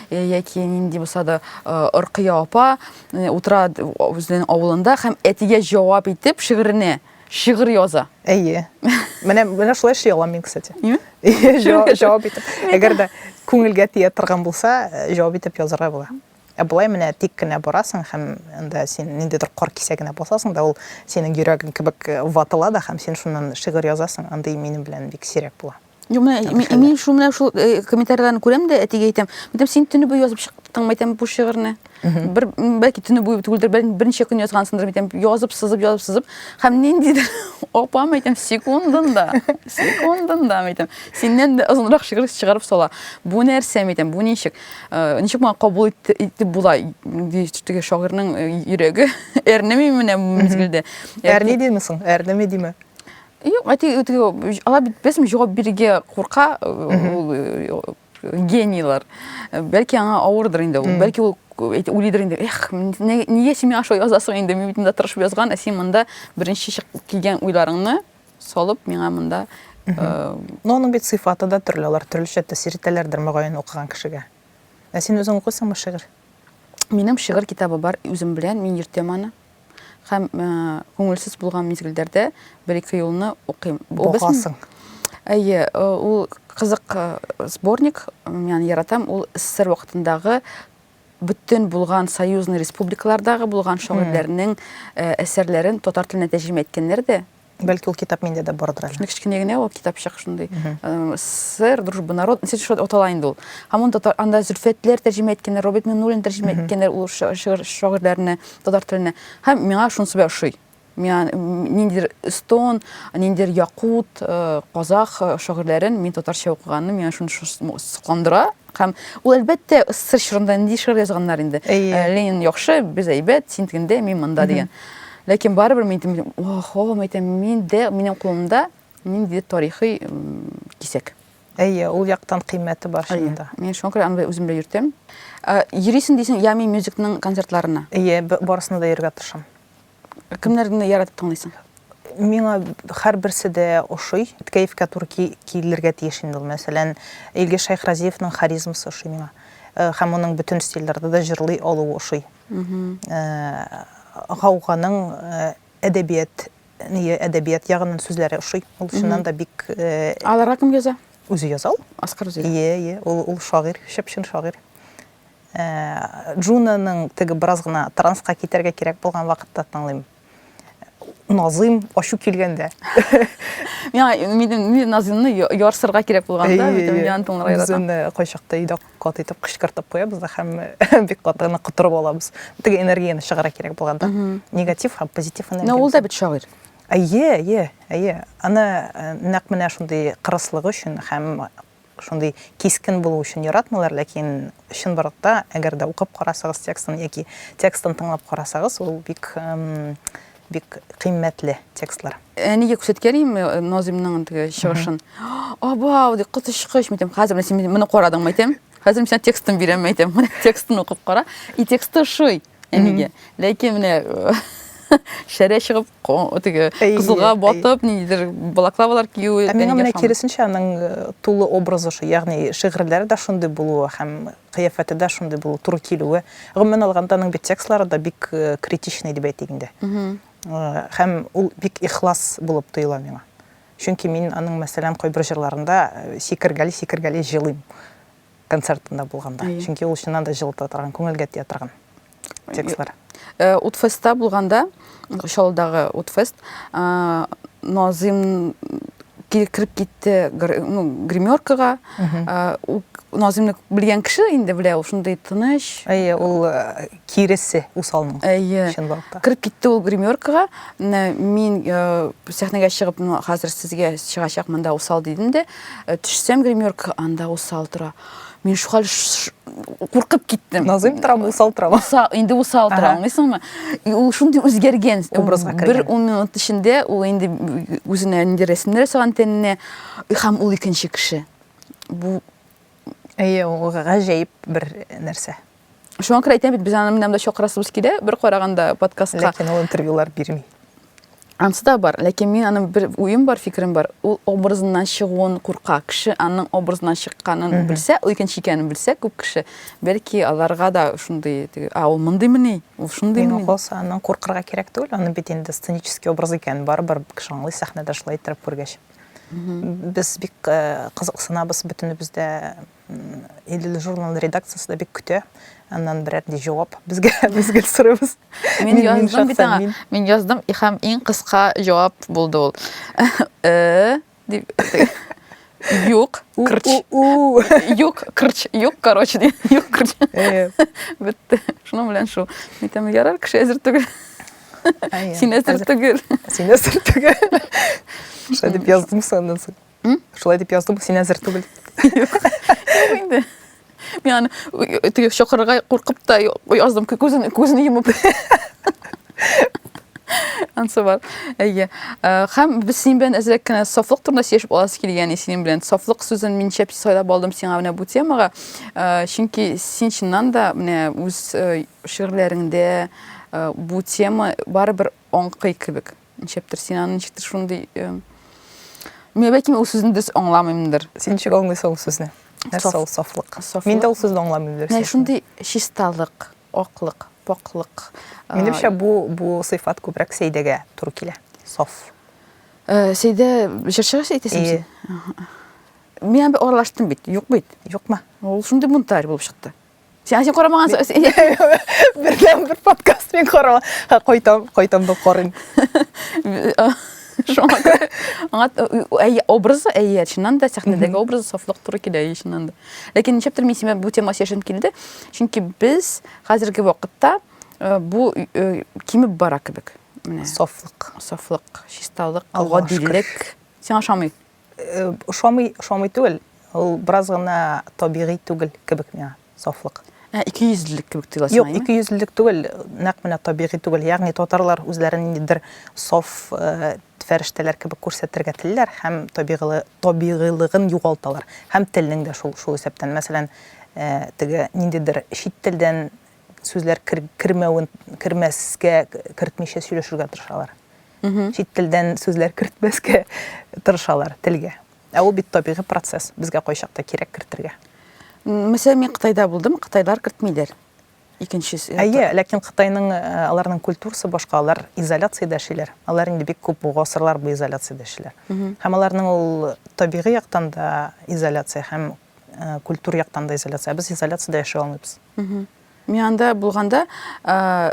Э, яки нинди булса да э, ыркыя апа э, утыра үзенең авылында һәм әтигә җавап итеп шигыренә шигырь яза әйе менә менә шулай эшли алам мин кстати җавап итеп әгәр дә күңелгә тия торган булса җавап итеп язарга була ә болай менә тик кенә барасың һәм анда син ниндидер кар кисәгенә басасың да ул синең йөрәгең кебек ватыла да һәм син шуннан шигырь язасың андый минем белән бик сирәк була Юк, менә мин шул менә шул э, комментарийларны күрәм дә, әтигә әйтәм. Әйтәм, син төне буе язып чыктыңмы, әйтәм, бу шигырьне. Бер бәлки төне буе түгелдер, бәлки берничә көн язгансыңдыр, әйтәм, язып, сызып, язып, сызып. Һәм ниндидер апам әйтәм, секундында, секундында әйтәм, синнән дә озынрак шигырь чыгарып сала. Бу нәрсә әйтәм, бу ничек? Э, ничек моңа кабул итте- итеп була? Ди, теге шагыйрьнең э, йөрәге әрнеми менә бу мизгелдә. Әрни димисең, әрнеме диме? Юк, әти алар бит беләсең җавап бирергә курка ул генийлар. Бәлки аңа авырдыр инде ул. Бәлки ул уйлыйдыр инде. Эх, нигә син миңа шулай язасың инде? Мин бит монда тырышып язган, ә син монда беренче чыгып килгән уйларыңны салып миңа монда Но аның бит сыйфаты да төрле, алар төрлечә тәэсир итәләрдер мөгаен укыган кешегә. Ә син үзең укыйсыңмы шигырь? Минем шигырь китабы бар үзем белән, мин йөртәм аны. Һәм күңелсез булган мизгелдәрдә бер-ике юлны укыйм. Богасың. Әйе, ул кызык сборник, мин яратам, ул СССР вакытындагы бөтен булган союзный республикалардагы булган шагыйрьләрнең әсәрләрен татар теленә тәрҗемә иткәннәр дә Бәлки ул китап миндә дә бардыр әле. Кечкенә генә ул китапчык шундый. Э, Сэр, дружба народ, ничек шулай атала инде ул. Һәм ул татар анда Зөлфәтләр тәрҗемә иткәннәр, Роберт Миннуллин тәрҗемә иткәннәр ул шагыйрьләрне татар теленә. Һәм миңа шунысы бер ошый. Миңа ниндидер эстон, ниндидер якут, э, казах э, шагыйрьләрен мин татарча укыганны, миңа шуны сокландыра. Һәм ул, әлбәттә, СССР чорында нинди шигырь язганнар инде. Ленин яхшы, без әйбәт, син тегендә, мин монда дигән. Ләкин барыбер мин әйтәм, ох, ох, әйтәм, мин дә, минем кулымда нинди тарихи кисәк. Әйе, ул яктан кыйммәте бар шунда. Мин шуңа күрә аны үзем белән йөртәм. Йөрисең дисең, Ями мюзикның концертларына? Әйе, барысына да йөрергә тырышам. Кемнәрне яратып тыңлыйсың? Миңа һәрберсе дә ошый. Кәефкә туры килергә тиеш инде ул. Мәсәлән, Илгиз Шәйхразиевның харизмасы ошый миңа. Э, һәм аның бөтен стильләрдә дә җырлый алуы ошый. Э, Гауганың э, әдәбият әдәбият ягыннан сүзләре ошый. Ул чыннан да бик Аларга кем яза? Үзе яза ул. Аскар үзе. Ие, ие. Ул ул шагыйрь, чып-чын шагыйрь. Джунаның теге бераз гына транска китәргә кирәк булган вакытта тыңлыйм. Назыйм, ачу килгәндә. Миңа минем Назыймны ярсырга кирәк булганда, битем ян тыңларга яратам. Без кайчакта өйдә кат итеп кычкыртып куябыз да һәм бик кат аны котырып алабыз. Теге энергияне чыгара кирәк булганда. Негатив һәм позитив энергия. Менә ул да бит шагыйрь. Әйе, әйе, әйе. Аны нәкъ менә шундый кырыслыгы өчен һәм шундый кискен булу өчен яратмыйлар, ләкин чынбарлыкта, әгәр дә укып карасагыз текстын яки текстын тыңлап карасагыз, ул бик бик кыйммәтле текстлар. Әнигә күрсәткән идем э, Назимның теге чыгышын. Абау, ди, коточкыч, митем, хәзер син моны карадыңмы, әйтәм. Хәзер мин сиңа текстын бирәм, әйтәм. Менә текстын укып кара. И тексты шуй. Әнигә. Ләкин менә шәрә чыгып, теге кызылга батып, ниндидер балаклавалар кию. Ә миңа менә киресенчә аның э, тулы образы шул, ягъни шигырьләре дә шундый булуы һәм кыяфәте дә шундый булуы, туры килүе. Гомумән алганда аның бит текстлары да бик э, критичный дип әйтик инде. Э, һәм ул бик ихлас булып тоела миңа. Чөнки мин аның мәсәлән кайбер җырларында сикергәли-сикергәли җылыйм. концертында булганда. Әйе. Чөнки ул чыннан да җылыта торган, күңелгә тия торган текстлар. Э, Утфестта булганда, Чаллыдагы Утфест, э, Назым кире китте ну гримеркага назымны белгән кеше инде белә ул шундый тыныч әйе ул э, киресе усалның әйе чынлыкта кереп китте ул гримеркага мин э, сәхнәгә чыгып ну хәзер сезгә чыгачак монда усал дидем дә э, төшсәм гримерка анда усал тора мин шухал куркып киттем назыйм торам усал торам инде усал тора аңлыйсыңмы и ул шундый үзгәргән образга бер ун минут эчендә ул инде үзенә инде рәсемнәр ясаган тәненә һәм ул икенче кеше бу әйе ул гаҗәеп бер нәрсә Шуңа күрә әйтәм бит, без аны менәм дә чакырасыбыз килә, бер караганда подкастка. Ләкин ул интервьюлар бирми. Ансы да бар, ләкин мин аның бер уем бар, фикерем бар. Ул образыннан чыгуын курка. Кеше аның образыннан чыкканын белсә, ул икенче икәнен белсә, күп кеше, бәлки аларга да шундый, а ул мондыймыни, ул шундыймыни. Мин калса, аннан куркырга кирәк түгел, аны бит инде сценический образ икән, барыбер кеше аңлый сәхнәдә шулай иттереп күргәч. Без бик э, кызыксынабыз, бөтенебез дә Илле журнал редакциясе дә бик көтә. Аннан берәр ди җавап безгә без гел сорыйбыз. Мин яздым бит аңа. Мин яздым һәм иң кыска җавап булды ул. Э дип Юк, кырч. Юк, кырч, юк, короче, ди. Юк, кырч. Бетте. Шуның белән шул. Митәм ярар кеше әзер түгел. Син әзер түгел. Син әзер түгел. Шулай дип яздым саннан соң. Шулай дип яздым, син әзер түгел. Юк инде. Мин аны теге чокырга куркып та яздым, күзен күзен йомып. Ансы бар. Әйе. Хәм без синең белән әзрәк кенә сафлык турында сөйләшеп аласы килгән синең белән. Сафлык сүзен мин шәп сайлап алдым сиңа менә бу темага. Чөнки син чыннан да менә үз шигырьләреңдә бу тема барыбер аңкый кебек. Ничектер син аны ничектер шундый Мин бәлки ул сүзне дөрес аңламыймдыр. Син ничек аңлыйсың ул сүзне? Нәрсә ул сафлык? Мин дә ул сүзне аңламыйм дөрес. Менә шундый чисталык, аклык, пакьлык. Минемчә бу бу сыйфат күбрәк Сәйдәгә туры килә. Саф. Э, Сәйдә җырчыга әйтәсең син? Мин аны аралаштым бит. Юк бит. Юкмы? Ул шундый бунтарь булып чыкты. Сиңа син карамаган бердән бер подкаст мин карама. Ха кайтам, кайтам да карыйм. Шуңа күрә аңа әй образы әй чыннан да сәхнәдәге образы сафлык туры килә чыннан да. Ләкин ничектер мин сиңа бу тема сөйләшем килде. Чөнки без хәзерге вакытта э, бу э, кимеп бара кебек. Менә сафлык, сафлык, чисталык, гадилек. Сиңа ошамый? Э, ошамый, ошамый түгел. Ул бераз гына табигый түгел кебек миңа сафлык. Ә ике йөзлелек кебек тоеласың. Юк, ике йөзлелек түгел, нәкъ менә табигый түгел. Ягъни татарлар үзләрен ниндидер саф э, фәрештәләр кебек күрсәтергә телиләр һәм табигылы, табигыйлыгын югалталар. Һәм телнең дә шул шул исәптән. Мәсәлән, э, теге ниндидер чит телдән сүзләр кер, кермәвен кермәскә кертмичә сөйләшергә тырышалар чит телдән сүзләр кертмәскә тырышалар телгә ә ул бит табигый процесс безгә кайчакта кирәк кертергә Мәсәлән, мин Кытайда булдым, Кытайлар кертмиләр. Икенчесе. Әйе, ләкин Кытайның э, аларның культурасы башка, алар изоляциядә яшиләр. Алар инде бик күп гасырлар бу изоляциядә яшиләр. Һәм аларның ул табигый яктан да изоляция һәм Э, культур яктан да изоляция без изоляцияда яши алмыйбыз мин анда булганда э,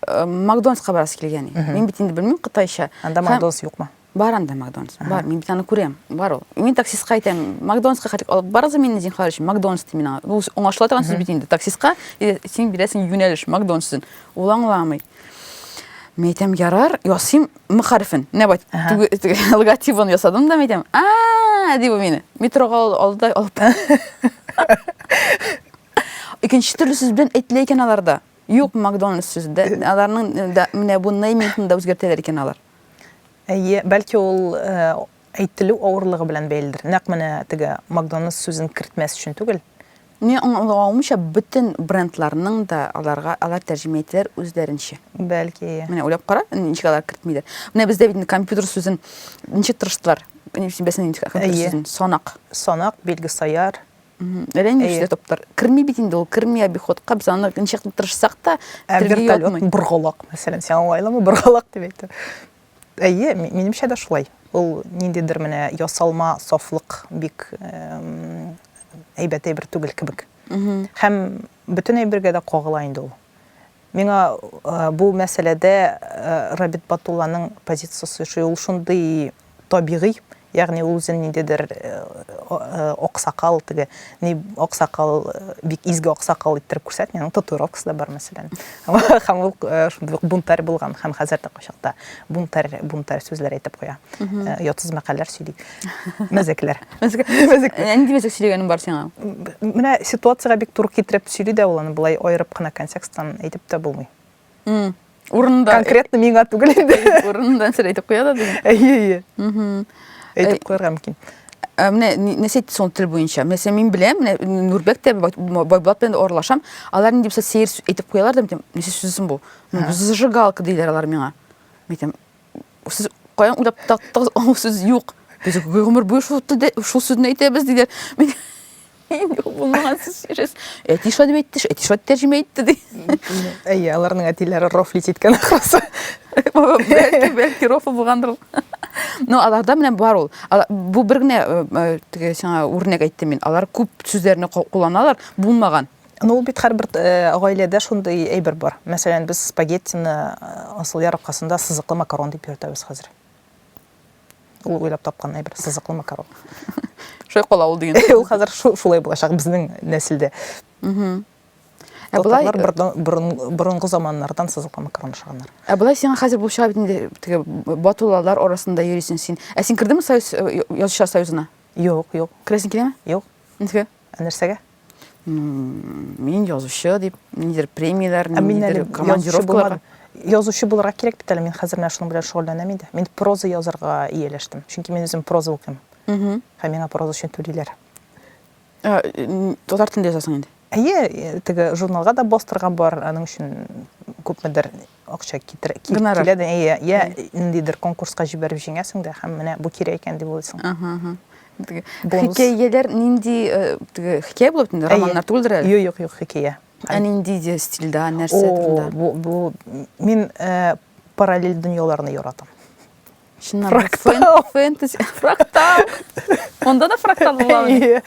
э, макдональдска барасы килгән мин бит инде белмим кытайча анда макдональдс юкмы бар анда макдональдс бар мин бит аны күрәм бар ул мин таксистка әйтәм макдональдска хәтик алып барыгыз мине зинхар өчен макдональдс ди мин ул аңлашыла торган сүз бит инде таксистка син бирәсең юнәлеш макдональдс өчен ул аңламый мин әйтәм ярар ясыйм мөхәррифен, менә бай, логотибын ясадым да, әйтәм, а дип мине, метроға алды алып. Икенче төрле сүз белән әйтелә икән аларда. Юк, Макдональдс сүзе дә, аларның менә бу неймингны да үзгәртәләр икән алар. Әйе, бәлки ул Әйтелү авырлыгы белән бәйледер. Нәкъ менә теге Макдоналдс сүзен кертмәс өчен түгел. Мин аңлавымча, бөтен брендларның да аларга алар тәрҗемә итәләр үзләренчә. Бәлки. Менә уйлап кара, ничек алар кертмиләр. Менә бездә бит компьютер сүзен ничек тырыштылар? Мин син бәсен ничек компьютер сүзен? Санак. Санак, билге саяр. Әллә нинди сүзләр таптар. Керми бит инде ул, керми обиходка. Без аны ничек тырышсак та, телгә ятмый. Вертолет, боргалак, мәсәлән, сиңа уңайлымы боргалак дип әйтү? Әйе, минемчә дә шулай. Ул ниндидер менә ясалма сафлык бик әйбәт әйбер түгел кебек. Һәм бөтен әйбергә дә кагыла инде ул. Миңа бу мәсьәләдә Рабит Батулланың позициясе шундый табигый, Ягъни ул үзен ниндидер аксакал, теге ни аксакал, бик изге аксакал иттереп күрсәтми, аның татуировкасы да бар, мәсәлән. Һәм ул шундый ук бунтарь булган, һәм хәзер дә кайчакта бунтарь, бунтарь сүзләр әйтеп куя. Ятсыз мәкальләр сөйли. Мәзәкләр. Мәзәк. Нинди мәзәк сөйләгәнең бар сиңа? Менә ситуациягә бик туры китереп сөйли дә ул аны, болай аерып кына контексттан әйтеп тә булмый. урынында конкретно миңа түгел инде урынында нәрсә әйтеп куя да дигән әйе әйе әйтеп куярга мөмкин ә менә нәрсә әйтте соң тел буенча мәсәлән мин беләм менә нурбәк тә байбулат белән дә аралашам алар нинди булса сәер әйтеп куялар да мен әйтәм нәрсә сүзсең бу зажигалка диләр алар миңа мен әйтәм Сез каян уйлап таптыгыз, аңа сүз юк. Без гомер буе шул телдә шул сүзне әйтәбез диләр. Мин Юк, булмаган сүз сөйләс. Әти шулай дип әйтте, әти шулай тәрҗемә итте ди. Әйе, аларның әтиләре рофлить иткән ахрысы. Бәлки, бәлки рофл булгандыр ул. Но аларда менә бар ул. Ала- Бу бер генә э, э, теге сиңа үрнәк әйттем мин. Алар күп сүзләрне ку- кулланалар, булмаган. Ну, ул бит һәрбер э, гаиләдә шундый әйбер бар. Мәсәлән, без спагеттины э, асыл яр аркасында сызыклы макарон дип йөртәбез хәзер. Ул уйлап тапкан әйбер сызыклы макарон. Шулай кала ул дигән. Ул хәзер шулай булачак безнең нәселдә. Ә болай борынгы заманнардан сызыклы макарон ашаганнар. Ә болай сиңа хәзер булып чыга бит инде теге батулалар арасында йөрисең син. Ә син кердеңме Союз э, язучылар союзына? Юк, юк. Керәсең киләме? Юк. Ничек? Ә нәрсәгә? Мин язучы дип, нидер премияләр, нидер командировкалар. Язучы булырга кирәк бит әле, мин хәзер менә шуның белән шөгыльләнәм инде. Мин проза язарга ияләштем, чөнки мин үзем проза укыйм. Һәм миңа проза өчен түлиләр. Татар телендә язасың инде? Әйе, теге журналга да бастырган бар, аның өчен күпмедер акча китерә, ки- Гонорар. килә дә, әйе, я ниндидер конкурска җибәреп җиңәсең дә һәм менә бу кирәк икән дип уйлыйсың. Ага, ага. Теге Бонус. Хикәяләр нинди э, теге хикәя булып төнде, романнар түгелдер әле. Юк, юк, юк, хикәя. Ә нинди де стильдә, нәрсә О, турында? бу, бу мин э, параллель дөньяларны яратам. Чыннан да, фэн- Фрактал. фэнтези фрактал онда да фрактал була ул. Әйе.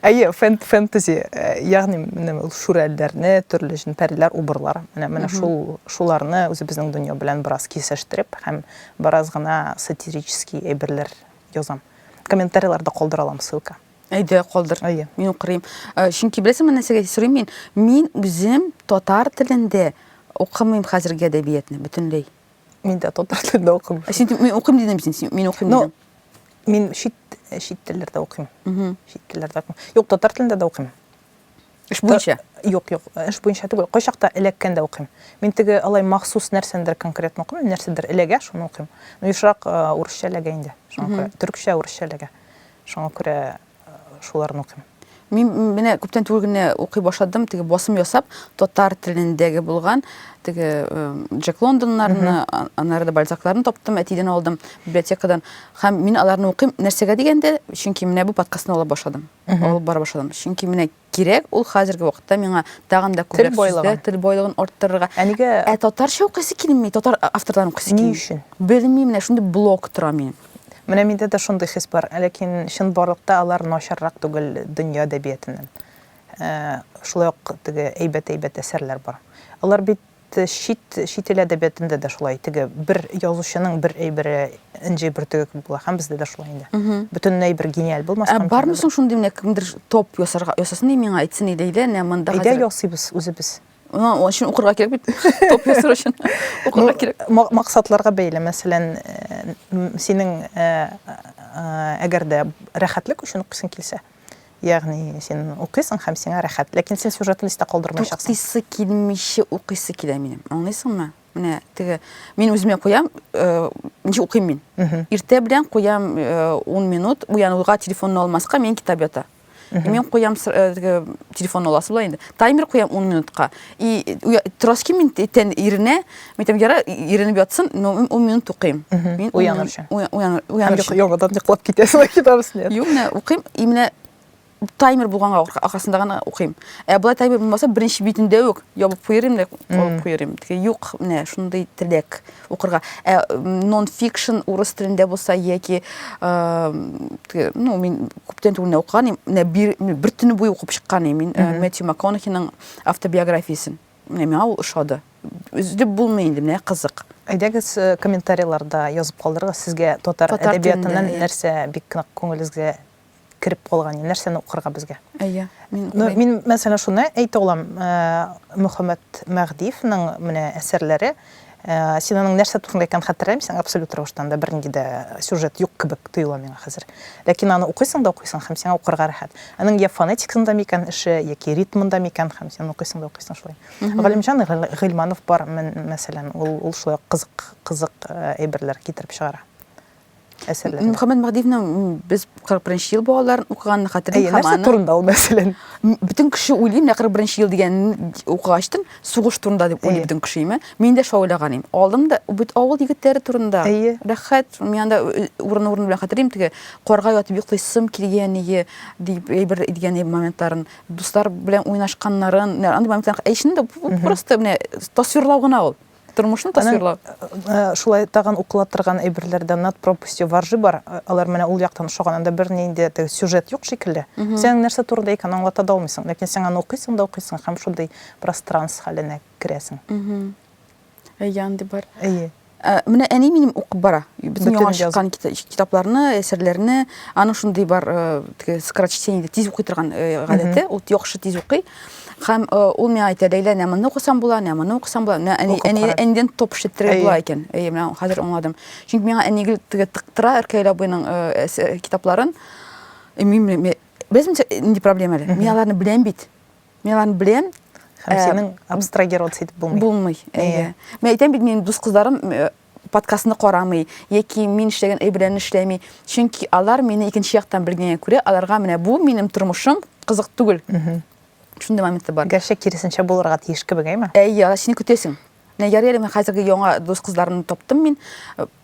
Әйе, фэн- фэнтези, э, ягъни менә ул шүрәлеләрне, төрле җен пәриләр убырлар. Менә менә шул шуларны үзебезнең дөнья белән бераз кисештереп һәм бераз гына сатирический әйберләр язам. Комментарийларда калдыра алам ссылка. әйдә калдыр Әйе. мин укырым Ә, чөнки беләсеңме нәрсәгә сорыйм мин мин үзем татар телендә укымыйм хәзерге әдәбиятны бөтенләй Мин дә татар телендә укыйм. Ә син мин укыйм дидем син, син мин укыйм дидем. Ну, мин чит чит телләрдә укыйм. Чит телләрдә укыйм. Юк, татар телендә дә укыйм. Эш буенча? Юк, юк, эш буенча түгел. Кайчакта эләккәндә укыйм. Мин теге алай махсус нәрсәндер конкретно укымыйм, нәрсәдер эләгә, шуны укыйм. Ну, ешрак урысча эләгә инде. Шуңа күрә төркчә, урысча эләгә. Шуңа күрә шуларны укыйм. Мин менә күптән түгел генә укый башладым, теге басым ясап, татар телендәге булган теге Джек Лондоннарны, аннары да Бальзакларны таптым, әтидән алдым библиотекадан. Һәм мин аларны укыйм. Нәрсәгә дигәндә, чөнки менә бу подкастны алып башладым. Алып бара башладым. Чөнки менә Кирәк, ул хәзерге вакытта миңа тагын да күбрәк сүзләр, тел байлыгын арттырырга. Ә нигә? Ә татарча укыйсы килми, татар авторларын укыйсы килми. Ни өчен? Белмим, менә шундый блок тора минем. Менә миндә дә шундый хис бар, ләкин чын барлыкта алар начаррак түгел дөнья әдәбиятеннән. Э, шулай ук теге әйбәт-әйбәт әсәрләр бар. Алар бит Чит, чит ил әдәбиятында да шулай, теге бер язучының бер әйбере энҗе бөртеге кебек була, һәм бездә дә шулай инде. Бөтенләй бер гениаль булмаска мөмкин. Ә бармы соң шундый менә кемдер топ ясарга, ясасын ди миңа, әйтсен иде, әйдә, менә монда хәзер. Әйдә ясыйбыз үзебез. Ана, ул өчен укырга кирәк бит. Топ ясар өчен укырга кирәк. Максатларга бәйле, мәсәлән, синең әгәр дә рәхәтлек өчен укыйсың килсә, Ягъни син укыйсың һәм сиңа рәхәт, ләкин син сюжетны истә калдырмаячаксың. Туктыйсы килмичә укыйсы килә минем. Аңлыйсыңмы? Менә теге мин үземә куям, э, ничә укыйм мин. Иртә белән куям 10 э, минут, уянуга телефонны алмаска мин китап ята. Мин куям э, телефонны аласы була инде. Таймер куям 10 минутка. И уя- торасы килми инде тән иренә. Мин әйтәм, ярар, иренеп ятсын, но мин ун минут укыйм. Мгм. Мин ун Уяныр минут- өчен. уя- уяныр- Һәм уяныр йоклап- өчен. яңадан йоклап китәсең китабыз нет. Юк, менә укыйм, и менә таймер булганга арка- аркасында гына укыйм. Ә болай таймер булмаса, беренче битендә үк ябып куерым, да алып куерым. Тике, Юк, менә шундый теләк укырга. Ә м, нон-фикшн урыс телендә булса яки э, тике, ну, мин күптән түгел менә укыган идем, менә бер, менә бер төне буе укып чыккан идем. Мин э, Мэтью МакКонахиның автобиографиясен. Менә миңа ул ошады. Өзеп булмый инде, менә кызык. Әйдәгез, э, комментарийларда язып калдырыгыз, сезгә татар, татар әдәбиятыннан телендә, нәрсә бик нык күңелегезгә кереп калган, нәрсәне укырга безгә? Әйе. Мин, ну, мин мәсәлән, шуны әйтә алам, э, Мөхәммәт Мәгъдиевның менә әсәрләре Ә, син аның нәрсә турында икәнен хәтерләмисең, абсолют рәвештән дә бернинди дә сюжет юк кебек тоела миңа хәзер. Ләкин аны укыйсың да укыйсың һәм сиңа укырга рәхәт. Аның я фонетикасында микән эше, яки ритмында микән һәм син укыйсың да укыйсың шулай. Галимҗан Гыйльманов бар, мәсәлән, ул, ул шулай ук кызык, кызык әйберләр китереп чыгара. әсәрләрен. Мөхәммәд Мәһдиевнең без 41 ел балаларын укыганны хәтерлим һәм аны турында ул мәсәлән. Бөтен кеше уйлый, менә 41 ел дигән укыгачтын сугыш турында дип уйлый бөтен кеше име. Мин дә шулай уйлаган идем. Алдым да бит авыл егетләре турында. Рәхәт, мин анда урын-урын белән хәтерлим теге карга ятып йоклыйсым килгәние дип әйбер дигән моментларын, дуслар белән уйнашканнарын, андый моментлар. Әй шунда просто менә тасвирлау гына ул. Тормышны тасвирлау. Э, шулай тагын укыла торган әйберләрдә над пропастью варжи бар. Э, алар менә ул яктан ошаган. Анда бернинди теге сюжет юк шикелле. Сен нәрсә турында икән аңлата да алмыйсың. Ләкин сен аны укыйсың да укыйсың һәм шундый пространс хәленә керәсең. Әйе, андый бар. Әйе. Э, менә әни минем укып бара. Бөтен яңа чыккан китапларны, әсәрләрне, аның шундый бар, теге скорочтение, тиз укый торган гадәте, ул яхшы тиз укый. Хәм э, ул миңа әйтә, Ләйлә, нә моны укысам була, нә моны укысам була. Нә әни, әни, әнидән топ шеттереп була икән. Әйе, менә хәзер аңладым. Чөнки миңа әни гел теге тыктыра Ркәйлә буйның э, э, китапларын. Э, мин беләм, инде проблема әле. Мин аларны беләм бит. Мин аларны беләм. Һәм синең абстрагироваться итеп булмый. Булмый. Әйе. Мин әйтәм бит, минем дус кызларым подкастны карамый, яки мин эшләгән эш белән эшләми. Чөнки алар мине икенче яктан белгәнгә күрә, аларга менә бу минем тормышым кызык түгел. Шундый моменты бар. Гәрчә киресенчә булырга тиеш кебек, әйме? Әйе, алар сине көтәсең. Менә ярый әле мин хәзерге яңа дус кызларны таптым мин.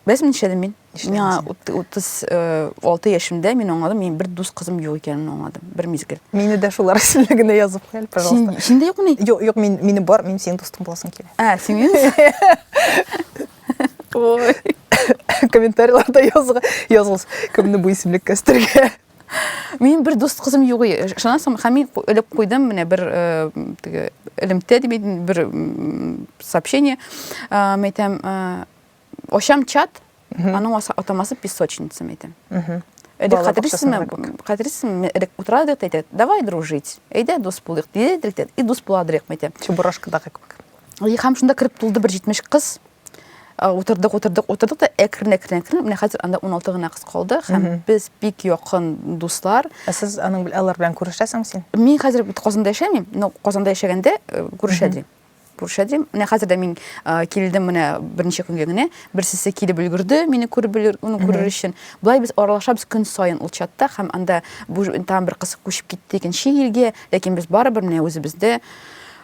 Без мин эшләдем мин. Миңа 36 э, яшемдә мин аңладым, мин бер дус кызым юк икәнен аңладым. Бер мизгел. Мине дә шулар исемлегенә язып куел, пожалуйста. Син дә юк ни? Юк, юк, мин мине бар, мин синең дустың буласың килә. Ә, Сименс? Ой. Комментарийларда язга, язгыз, кемне бу исемлек кәстергә. Мин бер дус кызым юк ие. Шунан соң хәми элеп куйдым менә бер э, теге элемтә дип бер сообщение. Мәйтәм, э, Ачам чат, аның атамасы песочница мәйтәм. Элек хәтерисезме, хәтерисезме, элек утырадык та әйтә, давай дружить, әйдә дус булыйк, дидек тә, и дус буладырык мәйтәм. Чебурашкадагы кебек. И һәм шунда кереп тулды бер 70 кыз. Утырдык, утырдык, утырдык та әкрен, әкрен, әкрен. Менә хәзер анда 16 гына кыз калды һәм без бик якын дуслар. Ә сез аның алар белән күрешәсеңме син? Мин хәзер Казанда яшәмим, но Казанда яшәгәндә күрешәдем. күршәдем. Менә хәзер дә мин килдем менә берничә көнгә генә. Берсесе килеп өлгерде, мине күреп уны күрер өчен. Болай без аралашабыз көн саен ул чатта һәм анда бу там бер кыз күчеп китте икенче илгә, ләкин без барыбер менә үзебездә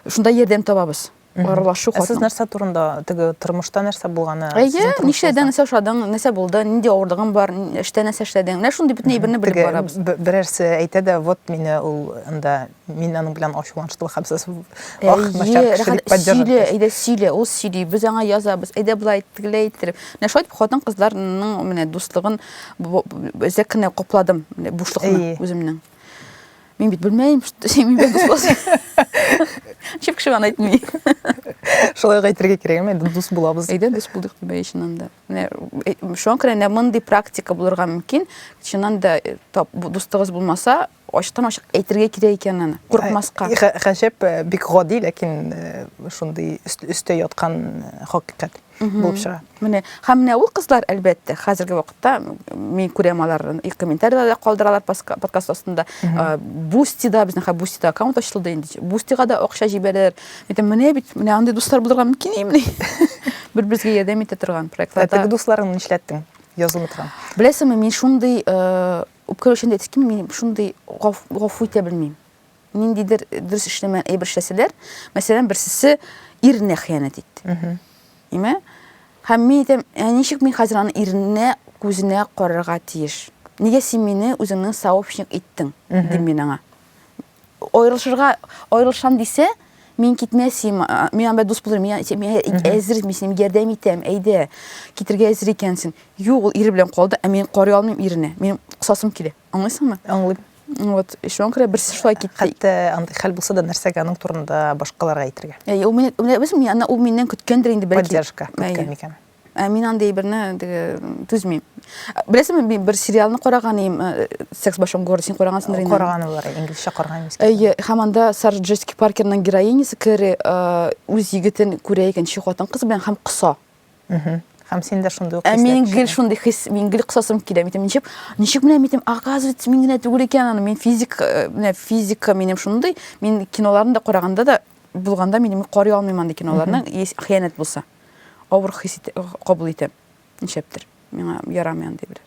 шунда ярдәм табабыз. Аралашу хатын. Сез нәрсә турында теге тормышта нәрсә булганы? Әйе, нишәдән нәрсә ошадың, нәрсә булды, нинди авырлыгың бар, эштә нәрсә эшләдең? Менә шундый бөтен әйберне белеп барабыз. Берәрсе әйтә дә, вот мине ул анда Мин аның белән ачуланыштым һәм сез ах, мәшәр кешелек поддерживать. Сөйле, әйдә сөйле, ул сөйли, без аңа язабыз, әйдә болай тегеләй иттереп. Менә шулай хатын кызларның менә дуслыгын үзәк кенә капладым, менә бушлыкны үземнең. Мин бит белмәйм, мин бит дус. Чип кеше аны әйтми. Шулай әйтергә кирәк, мен дус булабыз. Әйдә дус булдык дип әйшеннән дә. Менә э, шуңа күрә менә мондый практика булырга мөмкин. Чыннан да э, дуслыгыз булмаса, Ачыктан-ачык әйтергә кирәк икән аны, курыкмаска. Гаҗәп, бик гади, ләкин шундый өстә яткан хакыйкать булып чыга. Менә, һәм менә ул кызлар, әлбәттә, хәзерге вакытта мин күрәм аларны, и комментарийлар да калдыралар подкаст астында. Бустида, безнең хәзер Бустида аккаунт ачылды инде. Бустига да акча җибәрәләр. Әйтәм, менә бит, менә андый дуслар булырга мөмкинмени? Бер-беребезгә ярдәм итә торган проектларда. Ә теге дусларыңны нишләттең? Язылмый торган. Беләсеңме, мин шундый Үпкә үлчәүне әйтәсе килми, мин шундый гафу итә белмим. Ниндидер дөрес эшләмәгән әйбер эшләсәләр, мәсәлән, берсесе иренә хыянәт итте. Име? Һәм мин әйтәм, ә ничек мин хәзер аны иренә күзенә карарга тиеш? Нигә син мине үзеңнең сообщник иттең? дим мин аңа. Аерылышырга аерылышам дисә, мин китмәсем, мин анда дус булырым, мин әзер, мин синең ярдәм итәм, әйдә, китергә әзер икәнсең. Юк, ул ире белән калды, ә мин карый алмыйм ирне. Мин кысасым килә. Аңлыйсыңмы? Аңлыйм. Вот, шуңа күрә берсе шулай китте. Хәтта андый хәл булса да, нәрсәгә аның турында башкаларга әйтергә? Әйе, ул мине, ул миннән көткәндер инде бәлки. Поддержка көткән микән? Ә мин андый әйберне теге түзмим. Беләсеңме, мин бер сериалны караган идем, э, Секс в большом городе, син карагансыңдыр инде. Караганы бар, инглизчә караган идем. Әйе, һәм анда Сара Джессика Паркерның героинясы Кэрри э, үз егетен күрә икенче хатын кыз белән һәм кыса. Мгм. Һәм син дә шундый ук Ә хисләр мин гел кичердең. шундый хис, мин гел кысасым килә. Мин әйтәм, ничек, ничек менә мин әйтәм, оказывается, мин генә түгел икән аны. Мин физик, э, менә физика минем шундый. Мин киноларны да караганда да булганда мин карый алмыйм андый киноларны, если хыянәт булса. авыр хис итә, кабул итәм. Нишләптер, миңа ярамый андый бер.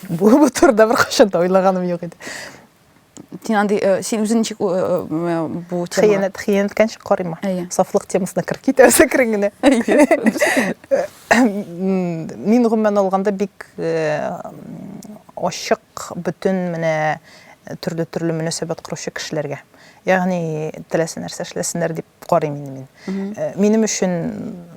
Бу бу турыда беркайчан да уйлаганым юк иде. Син андый, э, син үзең ничек э, э, бу темага? Хыянәт, хыянәт кәнчек карыйма. Сафлык темасына кереп китәсе керең генә. Мин гомумән алганда бик ачык бөтен менә төрле-төрле мөнәсәбәт коручы кешеләргә. Ягъни теләсә нәрсә эшләсеннәр дип карыйм инде мин. Э, минем өчен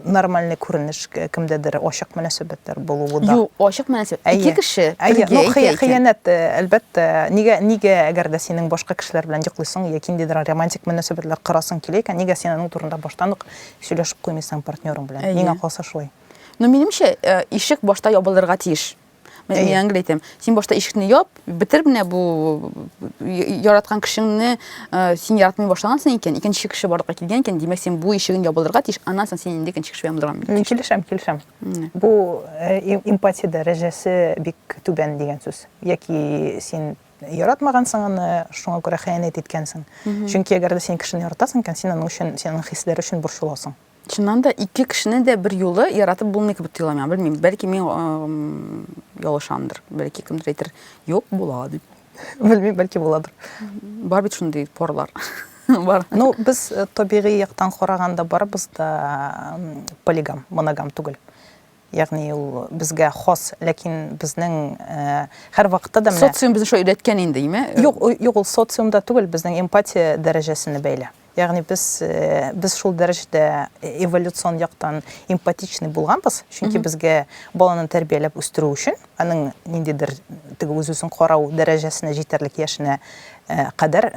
нормальный күренеш кемдәдер ачык мөнәсәбәтләр булуы да. Юк, ачык мөнәсәбәт. Ике кеше бергә ну, икән. Хыянәт, э, әлбәттә, нигә нигә әгәр дә синең башка кешеләр белән йоклыйсың яки ниндидер романтик мөнәсәбәтләр корасың килә икән, нигә син аның турында баштан ук сөйләшеп куймыйсың партнерың белән? Миңа калса шулай. Ну, минемчә, э, ишек башта ябылырга тиеш. Мен Әйе. яңгыр әйтәм. Син башта ишекне яп, бетер менә бу э, яраткан кешеңне э, син яратмый башлагансың икән, икенче кеше барлыкка килгән икән, димәк син бу ишеген ябылырга тиеш, аннан соң син инде икенче кеше белән булырга Мин килешәм, килешәм. Менә. Бу э, им- эмпатия дәрәҗәсе бик түбән дигән сүз. Яки син яратмагансың аны, шуңа күрә хыянәт иткәнсең. Чөнки әгәр дә син кешене яратасың икән, син аның өчен, син аның хисләре өчен борчыласың. Чыннан да ике кешене дә бер юлы яратып булмый кебек тоела миңа. Белмим, бәлки мин ялышамдыр. Бәлки кемдер әйтер, "Юк, була" дип. Белмим, бәлки буладыр. Бар бит шундый порлар. Бар. Ну, без э, табигый яктан караганда барыбыз да полигам, моногам түгел. Ягъни ул безгә хас, ләкин безнең һәрвакытта да менә Социум безне шулай өйрәткән инде, име? Юк, юк, ул социумда түгел, безнең эмпатия дәрәҗәсенә бәйле. Ягъни без, без шул дәрәҗәдә эволюцион яктан эмпатичный булганбыз, чөнки безгә баланы тәрбияләп үстерү өчен, аның ниндидер теге үз-үзен карау дәрәҗәсенә җитәрлек яшенә кадәр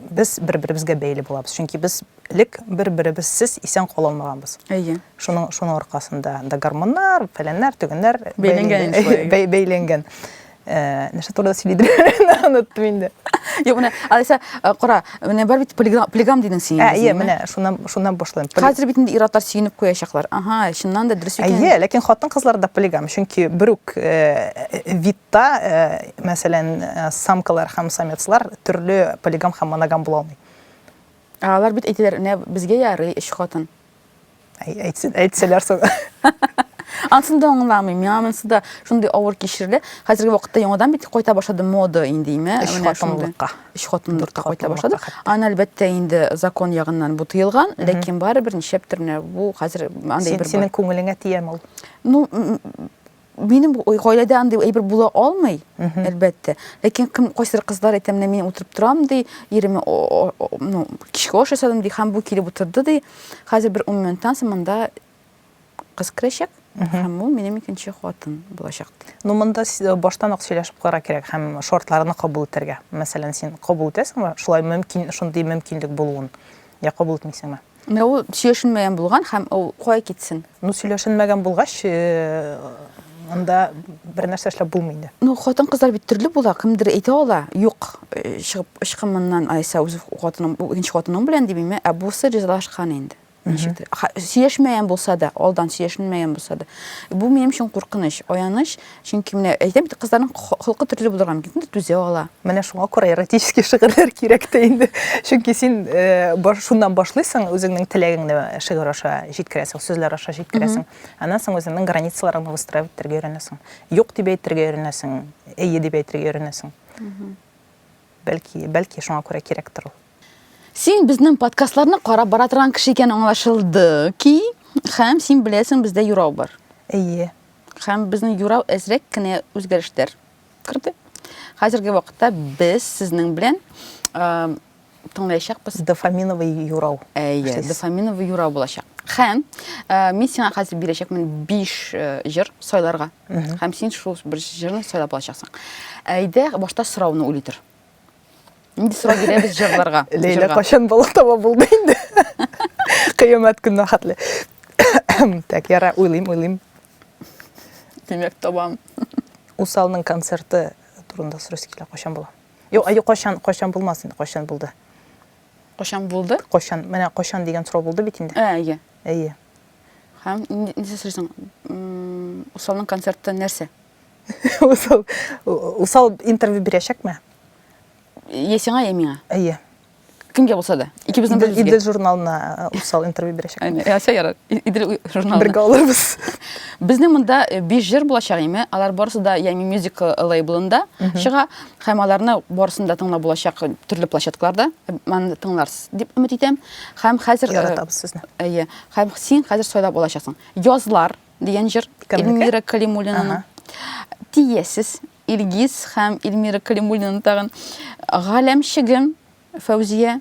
без бер-беребезгә бәйле булабыз. Чөнки без Элек бер-беребезсез исән кала алмаганбыз. Әйе. Шуның шуның аркасында да гормоннар, фәләннәр, төгеннәр бәйләнгән. Бәйләнгән. Э, нәрсә турында сөйлидер оныттым инде юк менә алиса э, кара менә бар бит полигам дидең син ә иә менә шуннан шуннан башлыйм хәзер бит инде ир атлар сөенеп куячаклар ага чыннан да дөрес икән әйе ләкин хатын кызлар да полигам чөнки бер үк э, видта мәсәлән самкалар һәм самецлар төрле полигам һәм моногам була алмый Ә алар бит әйтәләр, менә безгә ярый өч хатын. Әй, әйтсен, әйтсәләр соң. Ансын да аңламыйм. Миңа монысы да шундый авыр кичерелә. Хәзерге вакытта яңадан бит кайта башлады мода индиме? Өч хатынлыкка. Өч хатынлыкка кайта башлады. Аны әлбәттә инде закон ягыннан бу тыелган, ләкин барыбер нишләптер менә бу хәзер андый бер Синең күңелеңә тияме ул? Ну, минем гаиләдә андый әйбер була алмый, әлбәттә. Ләкин кем кайсыр кызлар әйтә, менә мин утырып торам ди, иреме ну, кичке аш ясадым ди, һәм бу килеп утырды ди. Хәзер бер 10 минуттан соң монда кыз керәчәк, һәм ул минем икенче хатын булачак ди. Ну, монда э, баштан ук сөйләшеп карар кирәк һәм шартларны кабул итәргә. Мәсәлән, син кабул итәсеңме? Шулай мөмкин, шундый мөмкинлек булуын. Я кабул итмисеңме? Менә ул сөйләшенмәгән булган һәм ул кая китсен? Ну, сөйләшенмәгән булгач, э, анда бер нәрсә эшләп булмый инде. Ну, хатын кызлар бит төрле була, кемдер әйтә ала, юк, э, чыгып ычкын моннан, Айса үз хатының, икенче хатының белән дип инде, ә бусы ризалашкан инде. Ничектер. Ха- Сөйләшмәгән булса да, алдан сөйләшенмәгән булса да. Бу минем өчен куркыныч, аяныч. Чөнки менә әйтәм бит, кызларның холкы төрле булырга мөмкин, дә түзә ала. Менә шуңа күрә эротический шигырьләр кирәк тә инде. Чөнки син э, шуннан башлыйсың, үзеңнең теләгеңне шигырь аша җиткерәсең, сүзләр аша җиткерәсең. Аннан соң үзеңнең границаларыңны выстраивать итәргә өйрәнәсең. Юк дип әйтергә өйрәнәсең, әйе дип әйтергә өйрәнәсең. Бәлки, бәлки шуңа күрә кирәктер ул. Син безнең подкастларны карап бара торган кеше икән аңлашылды ки, һәм син беләсең, бездә юрау бар. Әйе. Һәм безнең юрау әзрәк кенә үзгәрешләр керде. Хәзерге вакытта без сезнең белән тыңлаячакбыз. Дофаминовый юрау. Әйе, дофаминовый юрау булачак. Һәм мин сиңа хәзер бирәчәкмен 5 җыр сайларга. Һәм син шул бер җырны сайлап алачаксың. Әйдә, башта сорауны уйлый тор. Инде сорап бирәбез җырларга. Ләйлә кашан бала таба булды инде. Кыямәт көнне хатлы. Так, яра, уйлыйм, уйлыйм. Димәк, табам. Усалның концерты турында сорыйсы килә, кашан була? Юк, аю кашан, кашан булмас инде, кашан булды. Кашан булды? Кашан, менә кашан дигән сорау булды бит инде. Ә, әйе. Әйе. Һәм нисә сорыйсың? Усалның концерты нәрсә? Усал, усал интервью бирәчәкме? Е сиңа, е миңа. Әйе. Кемгә булса да. Икебезнең бер Идел журналына э, усал интервью бирәчәк. Әйе, ясә ярар. Идел журналына. Бергә алырбыз. Безнең монда 5 э, җыр булачак име? Алар барысы да Ями Music э, лейблында чыга һәм аларны барысын да тыңлап булачак төрле площадкаларда. Маны тыңларсыз дип өмет итәм. Һәм хәзер яратабыз сезне. Әйе. Һәм син хәзер сайлап алачаксың. Язлар дигән җыр Эльмира Калимуллинаның. Тиесез Илгиз һәм Эльмира Калимуллинаның тагын Галәмчегем Фәүзия,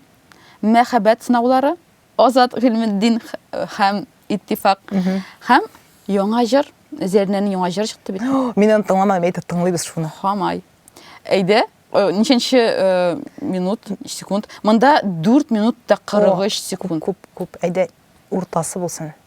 Мәхәббәт сынаулары, Азат Гыйлметдин һәм Иттифак һәм яңа җыр, Зәрнәнең яңа җыры чыкты бит. Мин аны тыңламадым, әйтеп тыңлыйбыз шуны. Хамай. Әйдә, э, ничәнче э, минут, секунд? Монда 4 минут та 43 секунд. Күп, күп. Әйдә, уртасы булсын.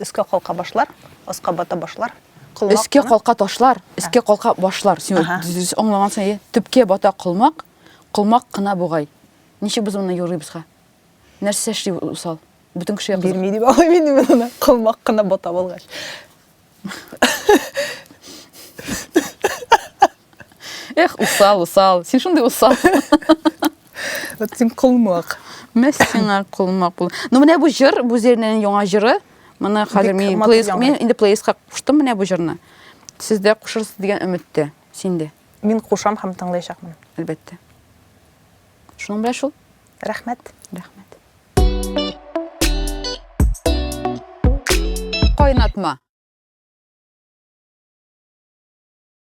Өскә калка башлар, аска бата башлар. Колмак. Өскә калка ташлар, өскә калка башлар. Син дөрес аңлагансың, әйе. Төпкә бата колмак, колмак кына бугай. Ничек без моны юрыйбызга? Нәрсә эшли усал? Бөтен кеше якын. Бирми дип алай мин моны. Колмак кына бата булгач. Эх, усал, усал. Син шундый усал. Вот син колмак. Мә сиңа колмак бул. Ну менә бу җыр, бу Зернәнең яңа җыры. Моны хәзер мин плейс, мин инде плейска куштым менә бу җырны. Сез дә кушырсыз дигән өметтә. Син дә. Мин кушам һәм тыңлаячакмын. Әлбәттә. Шуның белән шул. Рәхмәт. Рәхмәт. Кайнатма.